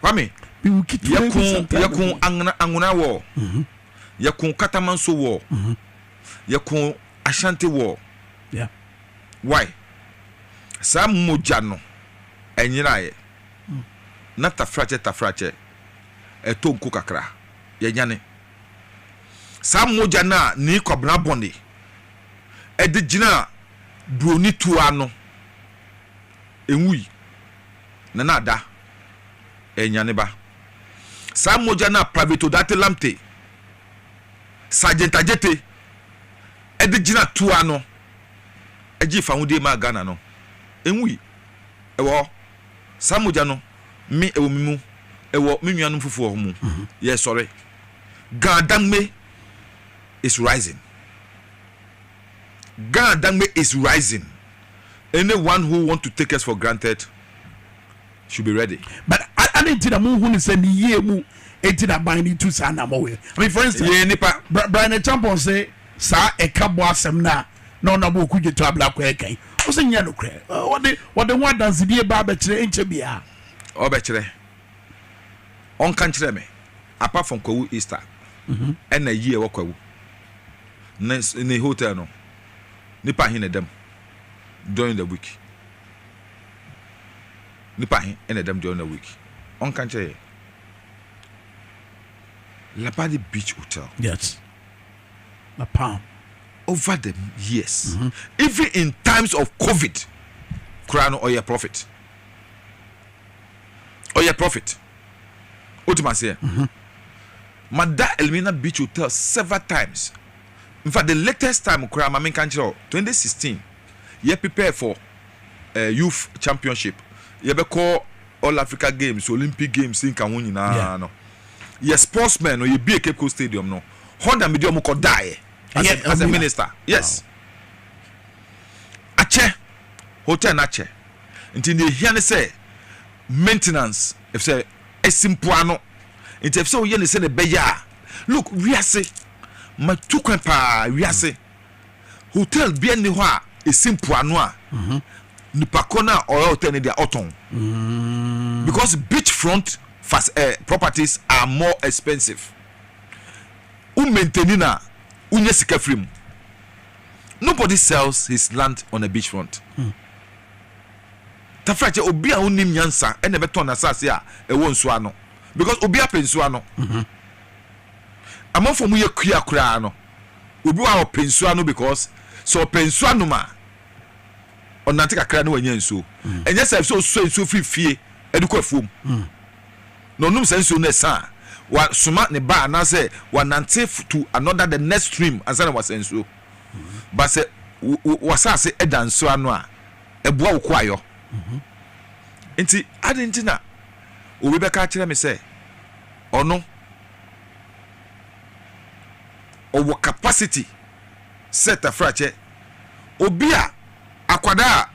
Kwame, yɛko yɛko Angona Angona war, mm-hmm. yɛko Katamanso war, mm-hmm. yɛko Ashanti war. Yeah. Why? Saa mogya no ɛnyeraeɛ mm. na tafrakyɛ tafrakyɛ ɛtɔ nko kakra yɛnyane saa mogya no a ne kwabena bɔne ɛde gyina buroni tuo ano Enwui, na na ada renya ne ba. Saa mogya no a Private Odate Lamptey, Sergeant Adjetey, de gyinaa tuo ano gyee fahodie maa Ghana no, enwui. Ɛwɔ hɔ. Saa mogya no, me, ɛwɔ me mu, ɛwɔ me nuanom foforɔ mu. Yɛresɔre. Ga Dangme is rising. Ghana dangme is rising, any one who want to take us for granted should be ready. But adɛn nti na monhu no sɛ ne yie mu nti na aban no tu saa anammɔ wei? I mean, for instance, Yɛyɛ nnipa. Bra- Brian Acheampong se saa ɛka bɔ asɛm no a na Honourable Okudzeto Ablakwa ɛka yi, ɔse nyɛ nokorɛ. Ɔ- Wɔde wɔde ho adansedie baa bɛkyerɛ ɛnkyɛ biara. ɔbɛkyerɛ ɔnka nkyerɛ me apart from kwawu easter ɛna yi ɛwɔ kwawu Ne ne hotel no, nipa he na ɛda mu during the week? Nipa he na ɛda mu during the week? Ɔnka nkyerɛ yɛ. Labadi Beach Hotel. Yes. La Palm. Over the years, mm -hmm. even in times of COVID, koraa no ɔyɛ profit. Ɔyɛ profit. Wotima seɛ. Mm -hmm. Mada Elmina Beach Hotel several times. Infact the latest time koraa ma menka nkyerɛ wo, twenty sixteen yɛ prepare for eh, youth championship, yɛbɛkɔ all Africa games, Olympic games ne nka ho nyinaa Yeah. no, yɛ sports men no yɛbue Cape Coast Stadium no, hɔ na mede ɔmo kɔdaeɛ as Ɛyɛ a, as a Elmina? minister. Yes. Wow. Akyɛ, hotel no akyɛ. Nti nea ɛhia ne sɛ maintenance, ɛfisɛ ɛsi mpoano nti ɛfisɛ woyɛ ne sɛdeɛ ɛbɛyɛ a look wiase matu kwan paa wiase hotel bia nni hɔ a ɛsi mpoano a mhm. nipa kɔ no a ɔyɛ hotel no deɛ ɔtɔn mm. because beach front fast, uh, eh, properties are more expensive wo maintaini na wonya sika firi mu nobody sells his land on a beach front mm. Tafra kyɛ obi a ɔnnim nyansa na ɛbɛtɔn n'asase a ɛwɔ nsuo ano because obi apɛ nsuo ano. Mhm. Amanfoɔ mu yɛ kua koraa no, obi wɔ a ɔpɛ nsuo ano because sɛ ɔpɛ nsuo anom a ɔnante kakra na wanya nsuo. Mhm. Ɛnyɛ sɛ sɛ ɔsua nsuo firi fie de kɔ afuom mhm. na ɔnom saa nsuo no ɛsa a wasoma ne ba anaasɛ wanante to another the next stream ansa na wasa nsuo. Ba sɛ wasase da nsuo ano a ɛboa wo koayɔ. Nti adɛn nti na obi bɛka akyerɛ me sɛ ɔno ɔwɔ capacity sɛ tafrakyɛ? Obi a akwadaa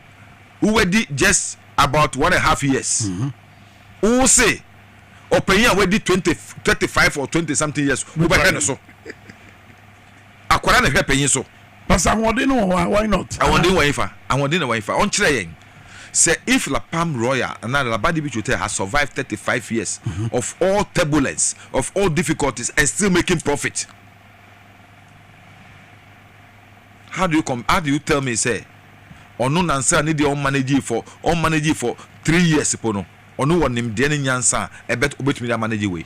a wadi just about one and half years, wo se ɔpanyin a wadi twenty, thirty five or twenty something years wobɛhwɛ ne so? Akwadaa na ɛhwɛ panyin so. Pastor ahoɔden no wɔ hɔ a why not? Ahoɔden wɔ hefa? Ahoɔden na wɔ hefa? Ɔnkyerɛ yɛn sɛ if La Palm Royal anaa La Badi Beach Hotel has survived thirty five years of all turbulence, of all difficulties and still making profit, how do you come, how do you tell me sɛ ɔno nansa ne deɛ ɔn manage for ɔn manage for three years po no ɔno wɔ nimdeɛ ne nyansa a ɛbɛ obetumi de amanage wei?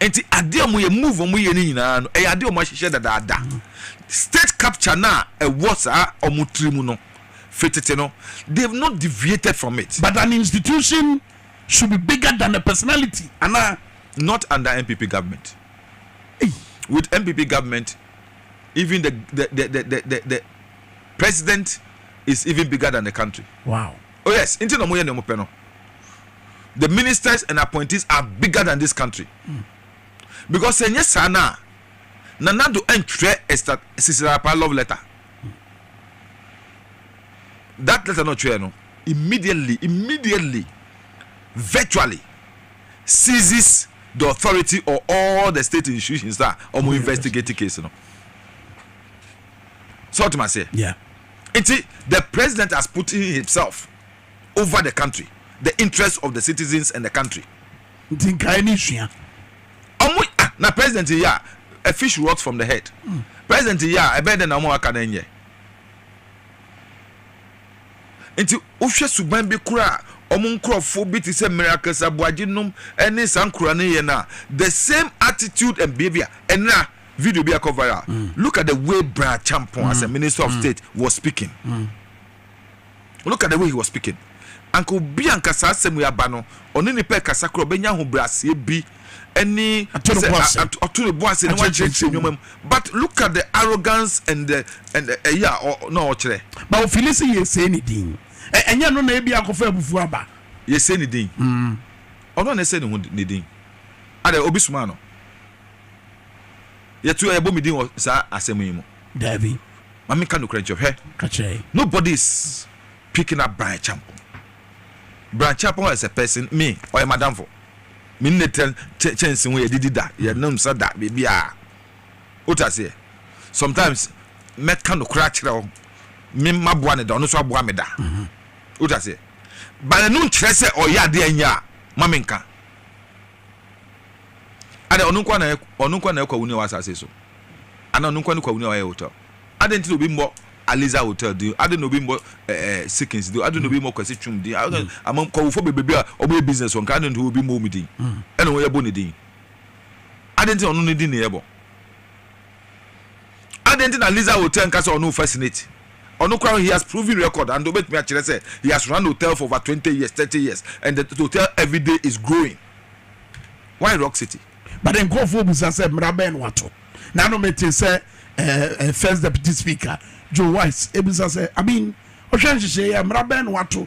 nti adeɛ ɔmo yɛ move ɔmo yɛ ne nyinaa no ɛyɛ adeɛ ɔmo ahyehyɛ dadaada state capture no a ɛwɔ saa ɔmo tiri mu no fitete no they have not deviated from it. but an institution should be bigger than a personality ana. not under npp government hey. with npp government even the the the the the, the president is even bigger than the country. wow. Oh yes, nti na ɔmo yɛ nea ɔmo pɛ no. The ministers and appointees are bigger than this country. Because sɛ nyɛ saa no a, Nana Addo ɛntwerɛ Esther Sisirapaa love letter. That letter na ɔtwerɛ no immediately, immediately, virtually seizes the authority or all the state institutions a ɔmo investigate case no. Sɛ ɔtemaseɛ? Yeah. Nti the president has put in himself over the country, the interest of the citizens and the country. Nti nkaeɛ no nsua. Ɔmo ah na president yɛ a a fish rot from the head. Mm. President yɛ a ɛbɛyɛ dɛ na ɔmo aka no nyɛ. Nti wohwɛ suban bi kora a ɔmo nkorɔfoɔ bi te sɛ miracles aboagye nom ɛne saa nkora no yɛ no a the same attitude and behavior ɛnra. Video bi a ɛkɔ viral, look at the way Bra Acheampong as a minister of state was speaking, look at the way he was speaking, anka obi a anka saa asɛm wei aba no, ɔne nipa rekasa koraa ɔbɛnya ahobrɛaseɛ bi ne sɛ ɔto ne bo ase na wakyerɛkyerɛ nneɛma mu, but look at the arrogance and the and ɛyi a na ɔkyerɛ. Ba ofili sɛ yɛsɛe ne din, ɛnyɛ ɛno na ebia akɔfa abufuo aba. Yɛsɛe ne din? Ɔno a na ɛsɛe ne ho ne din? Adɛn, obi somaa no? Yɛto yɛbɔ me din wɔ saa asɛm yi mu. Daabi. Ma me nka nokorɛ nkyerɛ. Hwɛ. Ka kyerɛ yɛn. Nobody is picking up Brian Champong. Brian Champong as a person, me, ɔyɛ m'adamfo. Me ne no tra kyɛ kyɛnse ho, yɛdidi da, yɛnom nsa da, biribiara. Wote aseɛ? Sometimes mɛka nokorɛ akyerɛ wo, me maboa no da, ɔno nso aboa me da. Wote aseɛ? But ɛno nkyerɛ sɛ ɔyɛ adeɛ a ɛnyɛ a, ma me nka. Adɛn, ɔno nko ara na ɔyɛ, ɔno nko ara na ɔyɛ kwawuni a ɔwɔ asase yi so? Anaa ɔno nko ara ne kwawuni a ɔyɛ hotel? Adɛn nti na obi mmɔ Aliza Hotel din? Adɛn na obi mmɔ ɛɛ eh, Sikins din? Adɛn na obi mmɔ Kwasi Twum din? Adɛn, mm. ama kwawufo bebrebe a wɔyɛ business wɔ nka, adɛn nti obi mmɔ wɔn din? Mm. Ɛna wɔyɛ bɔ ne din. Adɛn nti na ɔno ne din na yɛbɔ? Adɛn nti na Lisa Hotel nka sɛ ɔne wo fascinate? Ɔno koraa no he has proven record and obetumi akyerɛ sɛ he has run hotel for over twenty years, thirty years and the hotel everyday is growing. Why Rock City? But nkurɔfoɔ bisa sɛ mmara bɛn na wɔato? Na ano metee sɛ ɛɛ First Deputy Speaker Joe Wise bisa sɛ, I mean, wohwɛ nhyehyɛe yi a, mmara bɛn na wɔato?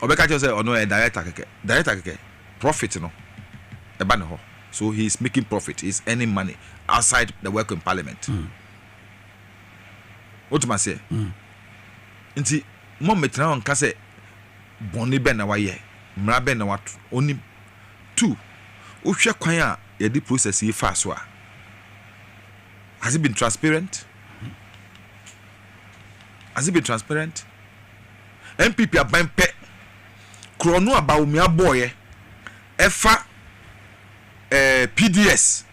ɔbɛka kyerɛ sɛ ɔno ɔyɛ director kɛkɛ director kɛkɛ profit no ɛba ne hɔ so he is making profit he is earning money outside the work in parliament wotum aseɛ nti mo mmetena hɔ nka sɛ bɔnne bɛn na wayɛ mmara bɛn na wato onim two wohwɛ kwan a yɛde process yi faa so a has it been transparent has it been transparent NPP aban pɛ korɔno a Bawumia bɔɔeɛ ɛfa eh, PDS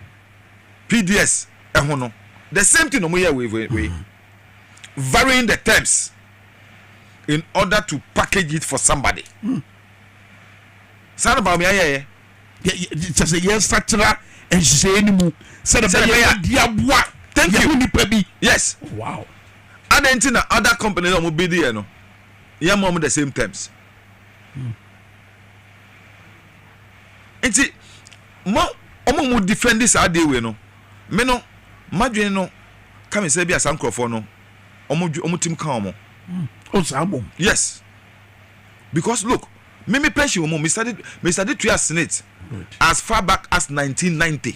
PDS ɛho no, the same thing na ɔmo yɛɛ wei wei wei, varying the terms in order to package it for somebody. Saa na Bawumia yɛɛyɛ. kyɛ sɛ yɛsakyera nhyehyɛeɛ no mu sɛdeɛ bɛyɛ di aboa yɛho nipa bi yes wow adɛn nti na other company na ɔmo bi deɛ no yɛma ɔmo the same terms hmm. nti mo ɔmo mu defend saa adeɛ wei no me no madwene no ka me sɛ bi a saa nkurɔfoɔ no ɔmo ɔmo tim ka ɔmo hmm. o oh, saa bom yes because look Me me pension mu me study me study tua senate as far back as nineteen ninety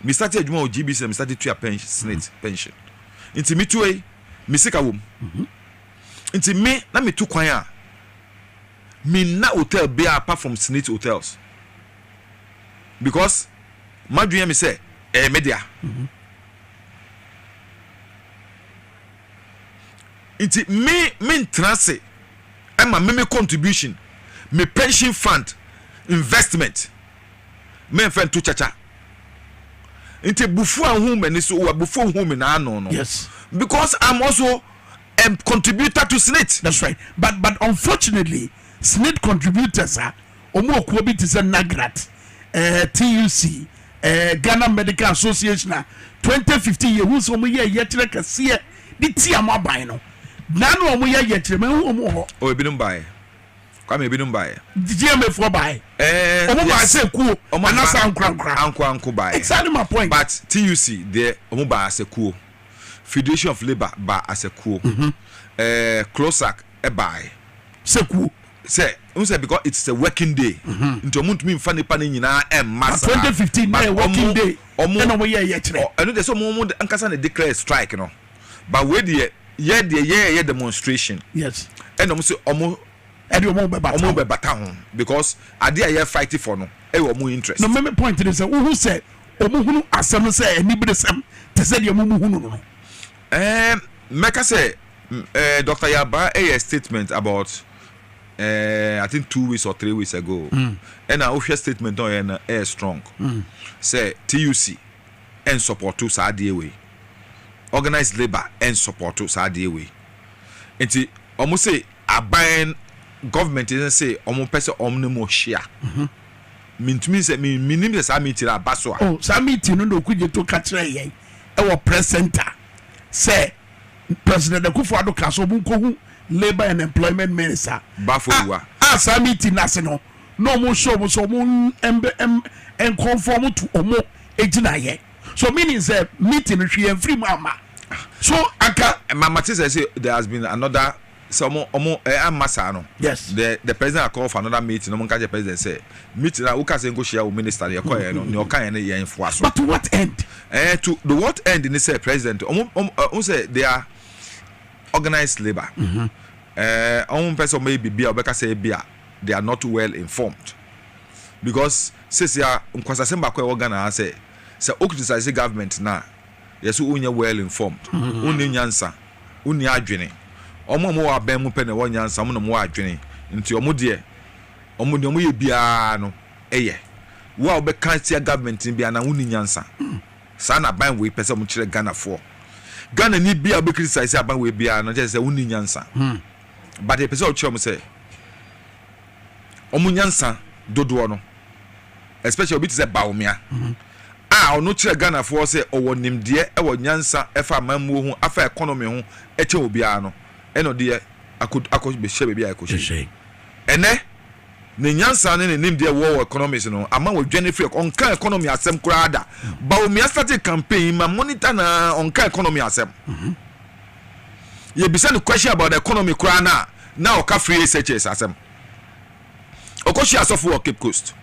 me study adwuma wɔ gbc na me study tua pension mm-hmm. senate pension nti me tuo yi me sika wɔ mu mm-hmm. nti me na me tu kwan a me nna hotel bia apart from senate hotels because madwene mi sɛ ɛyɛ eh, me dea. Mm-hmm. Nti me me ntena se ma me me contribution me pension fund investment me nfa nto kyakya nti bufu a hu mani so wa bufu hu me na ano no yes because I'm also a contributor to SSNIT that's right but but unfortunately SSNIT contributors a Wɔn akuo bi te sɛ NAGRAT, TUC, Ghana Medical Association a twenty fifteen yɛhu sɛ wɔn yɛ yɛkyerɛ kɛseɛ de tia mo aban no. Naa no a wɔn yɛ yɛkyerɛ mɛ hu wɔn wɔ hɔ. Oh ebinom baeɛ. Kwame ebinom baeɛ. GMA foɔ baeɛ. Eh wɔn baeɛ sɛ kuo anasa ankorankora. Anko anko baeɛ. Exactly my point. But TUC deɛ wɔn baa asɛ kuo. Federation of Labour baa asɛ kuo. Mm-hmm. Eh Closac ɛbae sɛ kuo sɛ wohu sɛ because it's a working day nti ɔmo ntumi nfa nipa no nyinaa ɛmma saa twenty fifteen na yɛ working day ɛna ɔmo yɛ ɛyɛ kyerɛ ɛno deɛ sɛ ɔmo ɔmo ankasa na declare strike no but wei deɛ yɛ deɛ yɛ ɛyɛ demonstration yes ɛna ɔmo sɛ ɔmo ɛde ɔmo bɛ bata ɔmo bɛ bata ho because adeɛ a yɛ fight for no ɛyɛ ɔmo interest na mɛmɛ point ne sɛ wohu sɛ ɔmo hunu asɛm sɛ ɛni bere sɛm te sɛ deɛ mo mo hunu no. Ɛɛ mɛka sɛ ɛɛ Doctor Yabaa ɛyɛ statement about ɛɛ I think two weeks or three weeks ago ɛna wohwɛ statement na ɔyɛ no ɛyɛ strong sɛ TUC ɛnsɔpɔto saa adeɛ wei organized labour ɛnsɔpɔto saa adeɛ wei nti wɔn se aban government no se wɔn pɛ sɛ wɔn ne mo hyia mentumi sɛ menim sɛ saa meeting aba so a. Oh saa meeting no na Okudzeto ka kyerɛ yɛn. wɔ press centre sɛ President Akufo Addo kaa sɛ wɔn nkɔhu Labour and Employment Minister a saa meeting no ase no na wɔn hyɛ wɔn sɛ wɔn nkɔmfo wɔn tu wɔn gyinaeɛ so meaning sɛ meeting no hwee yɛn mfiri mu ama so anka. mamate sɛ sɛ there has been another. sɛ ɔmo ɔmo ɛ amma saa no. Yes. The the president had called for another meeting na ɔmo nka kyerɛ president sɛ meeting a woka sɛ nko hyia wo minister no yɛ kɔ yɛ no nea ɔka yɛ no yɛn foa so. But to what end? Ɛɛ to the what end ne sɛ president ɔmo ɔmo ɛ n sɛ they are organized labour ɛɛ ɔmo mpɛ sɛ ɔmo yɛ biribi a ɔbɛka sɛ ebi a they are not well informed because sesia nkwasasɛm baako a ɛwɔ Ghana ha sɛ sɛ o criticise government no a. yɛ sɛ wonyɛ well informed, wonni nyansa, wonni adwene. Wɔn a wɔwɔ abɛn mu pɛ na wɔwɔ nyansa, wɔn na wɔwɔ adwene, nti wɔn deɛ, wɔn deɛ wɔyɛ biara no yɛ. Wo a wobɛka atia government no biara no ara wonni nyansa. Saa na aban wei pɛ sɛ wɔkyerɛ Ghanafoɔ. Ghanani biara a wobɛ criticize aban wei biara no, na kyerɛ sɛ wonni nyansa. But yɛpɛ sɛ yɛkyerɛ wɔn sɛ, wɔn nyansa dodoɔ no especially obi te sɛ Bawumia a ɔno kyerɛ Ghanafoɔ sɛ ɔwɔ nimdeɛ ɛwɔ nyansa ɛfa amammuo ho afa economy ho ɛkyɛn obiara no ɛna ɔde yɛ akɔ akɔ hyɛ baabi a ɛkɔhyɛ ɛnɛ ne nyansa ne ne nimdeɛ wɔ wɔ economics no ama wɔdwane firi ɔnka economy asɛm koraa da Bawumia started campaign ma monitor na ɔnka economy asɛm. Mm -hmm. yɛbisa no question about the economy koraa no a, na ɔka free SHS asɛm. Ɔkɔhyia sɔfo wɔ Cape Coast.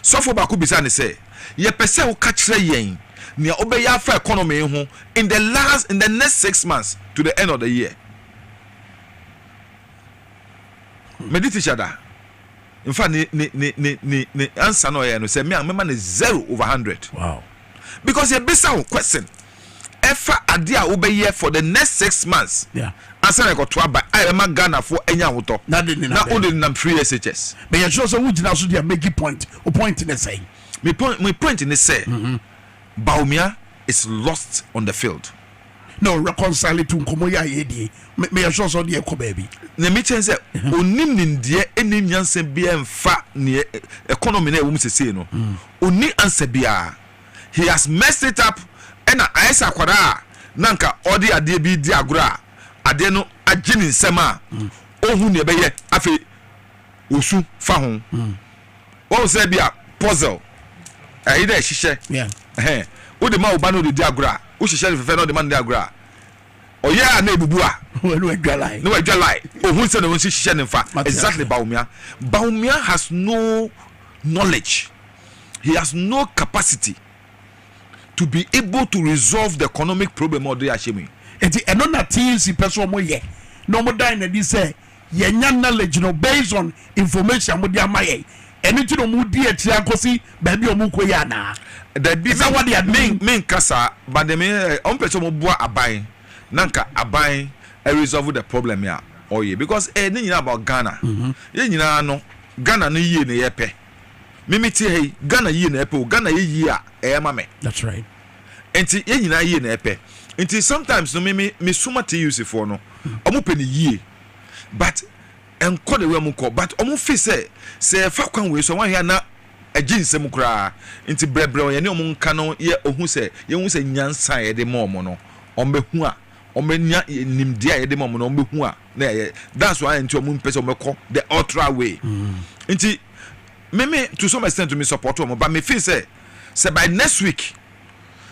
Sɔfo baako bisa no sɛ, Yɛpɛ sɛ woka kyerɛ yɛn nea wobɛyɛ afa economy ho in the last, in the next six months to the end of the year. Mede teacher da. In fact, ne, ne, ne, ne, ne, ne answer no ɔyɛ no sɛ, me a mɛma no zero over hundred. Wow. Because yɛbisa wo question. ɛfa adeɛ a wobɛyɛ for the next six months ansa na ɛkɔto aba a ɛbɛma Ghanafoɔ anya ahotɔ na wode nenam free SHS. Bɛyɛ sure sɛ wogyina so deɛ mɛgi point. Wo point ne sɛn? Me point, me point ne sɛ mm-hmm. Bawumia is lost on the field. No, reconcile to nkɔmmɔ yi a yɛdie meyɛ sure sɛ ɔde ɛkɔ baabi. Na me kyɛn sɛ mm-hmm. ɔni nimdeɛ ɛni nyansa biara mfa neɛ economy na ɛwɔ mu sesei no ɔni mm. ansa biara. he has messed it up ɛna ayɛ sɛ akwadaa a na nka ɔde adeɛ bi redi agorɔ a adeɛ no agye ne nsam a ɔhu nea ɛbɛyɛ afei ɔsu fa ho wɔn sɛ bi a puzzle ɛyi dɛ ɛhyehyɛ ɛhɛn wode ma wo ba no de di agorɔ a wohyehyɛ no fɛfɛ na ɔde ma no de agorɔ a ɔyɛ a na ebubu a na wadwa lai na wadwa lai ohun sɛ na wɔn si hyehyɛ ne nfa exactly baumia baumia has no knowledge. he has no capacity to be able to resolve the economic problem a ɔde ahyɛ mu yi. Eti ɛno na TUC pɛ sɛ wɔyɛ na wɔdan no adi sɛ yɛnya knowledge no based on information a wɔde ama yɛn. Ɛno nti na wɔdi akyire ara kɔsi baabi a wɔrekɔ yi anaa? Dabi, Ɛsɛ sɛ wɔde ade me, no. menka saa, but deɛ me, eh, wɔn pɛ sɛ wɔn boa aban na nka aban eh, resolve the problem a ɔyɛ because eh, ne nyinaa about Ghana. Yɛn nyinaa no, Ghana no yie na yɛpɛ. me me te ha yi Ghana yie na ɛpɛ o Ghana yɛ yie a ɛyɛ ma me that's right nti yɛn nyinaa yie na ɛpɛ nti sometimes no me me me suma TUC foɔ no wɔn hmm. pɛ ne yie but nkɔ de wɛ mu kɔ but wɔn fi sɛ sɛ ɛfa kwan wei so wɔn ahwɛ na ɛgye nsɛm koraa nti brɛbrɛ wɔn yɛne wɔn nka no yɛ ohu sɛ yɛn hu sɛ nyansa a yɛde ma wɔn no wɔn bɛ hu a wɔn bɛ nya nimdeɛ a yɛde ma wɔn no wɔn bɛ hu a. na ɛyɛ that's why nti ɔmo mpɛ sɛ ɔmo kɔ the ultra way nti mimi to some extent to me support ɔmo but me feel sɛ sɛ by next week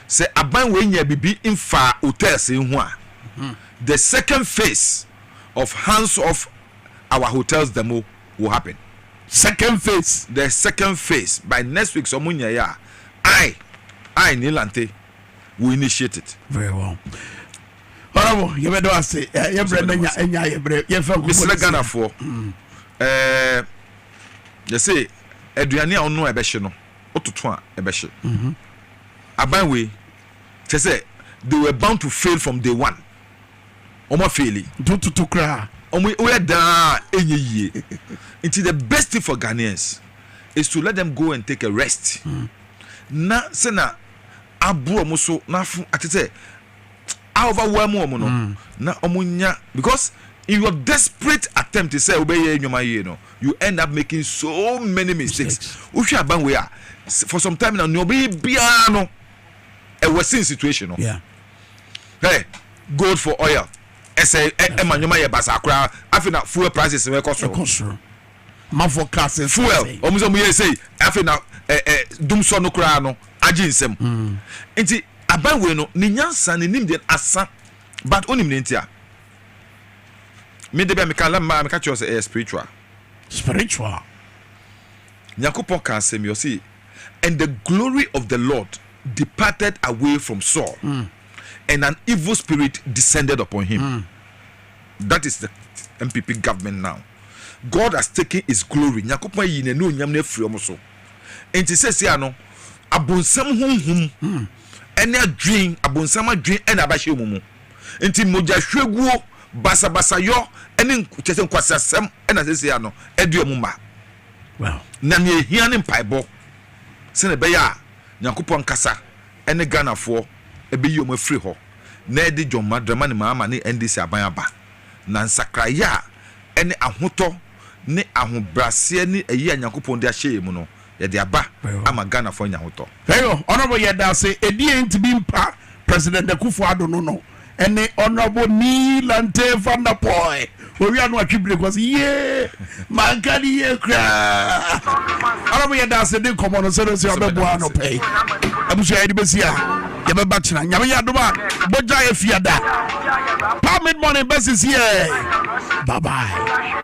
sɛ aban wei nya bibi nfa hotels yi ho a the second phase of hands off our hotels demo will happen. second phase. the second phase by next week sɛ ɔmo nya yɛ a i i nilante will initiate it. very well. Honourable, yɛbɛda wo ase. Eh, yɛbrɛ no nya nya yɛbrɛ yɛmfa nkɔmmɔ. Mesrɛ Ghanafoɔ. Mm. Eh, yɛse aduane a ɔno a ɛbɛhye no, wototo a ɛbɛhye. Mhm. Aban wei kyɛ sɛ they were bound to fail from day one. Wɔn afeeli. Nti wototo koraa. Wɔn woyɛ daa enye yie. Nti the best thing for Ghanaians is to let them go and take a rest. Mm. Na sɛ na aboro wɔn so na afo akyɛ sɛ a ɔbɛwaa mu wɔn no mm. na wɔn nya because in your desperate attempt sɛ wobɛyɛ nnwuma yie no you end up making so many mistakes wohwɛ aban wei a for some time na nea ɔbɛyɛ biara no ɛwɔ sin situation no hey gold for oil ɛsɛ ɛma nnwuma yɛ basaa koraa afei na fuel prices no ɛkɔ soro manfoɔ kaa sɛ fuel wɔn sɛ wɔyɛ sei afei na ɛ ɛ dum sɔ no koraa no agye nsam mm. nti aban wei no ne nyansa ne nim deɛ asa but onim ne nti a mede bɛ meka la mmaa meka kyerɛ sɛ ɛyɛ spiritual spiritual nyankopɔn ka asɛm yi ɔse and the glory of the lord departed away from saul mm. and an evil spirit descended upon him mm. that is the mpp government now God has taken his glory, Nyankopɔn ayi n'anuonyam no afiri wɔn so. Enti seesei ano, abonsam honhom ne adwene, abonsam adwene na abɛhyɛ wɔn mu. Enti mogyahwieguo, basabasayɔ ne kyerɛ sɛ nkwaseasɛm na seesei ano ɛde wɔn ma. Na nea ehia ne mpaebɔ sɛnea ɛbɛyɛ a Nyankopɔn ankasa ne Ghanafoɔ ɛbɛyi wɔn afiri hɔ na ɛde John Dramani Mahama ne NDC aban aba. Na nsakraeɛ a ɛne ahotɔ ne ahobraseɛ ne ayie a Nyankopɔn de ahyɛ yɛn mu no, yɛde aba ama Ghanafoɔ anya ahotɔ. Eyo honourable yɛdase ɛdiɛ nti bi mpa president akufo ado no no ɛne honourable nii lantee van der poel owia no atwi bire kɔ so yie. manka ne yie koraa ara mo yɛda ase de nkɔmmɔ no sɛ no sɛ ɔbɛboa no pɛi abusua yɛde bɛsi a yɛbɛba kyena nyame yɛ adom a bɔgya yɛ fiada pa mid morning bɛsisi ɛ babae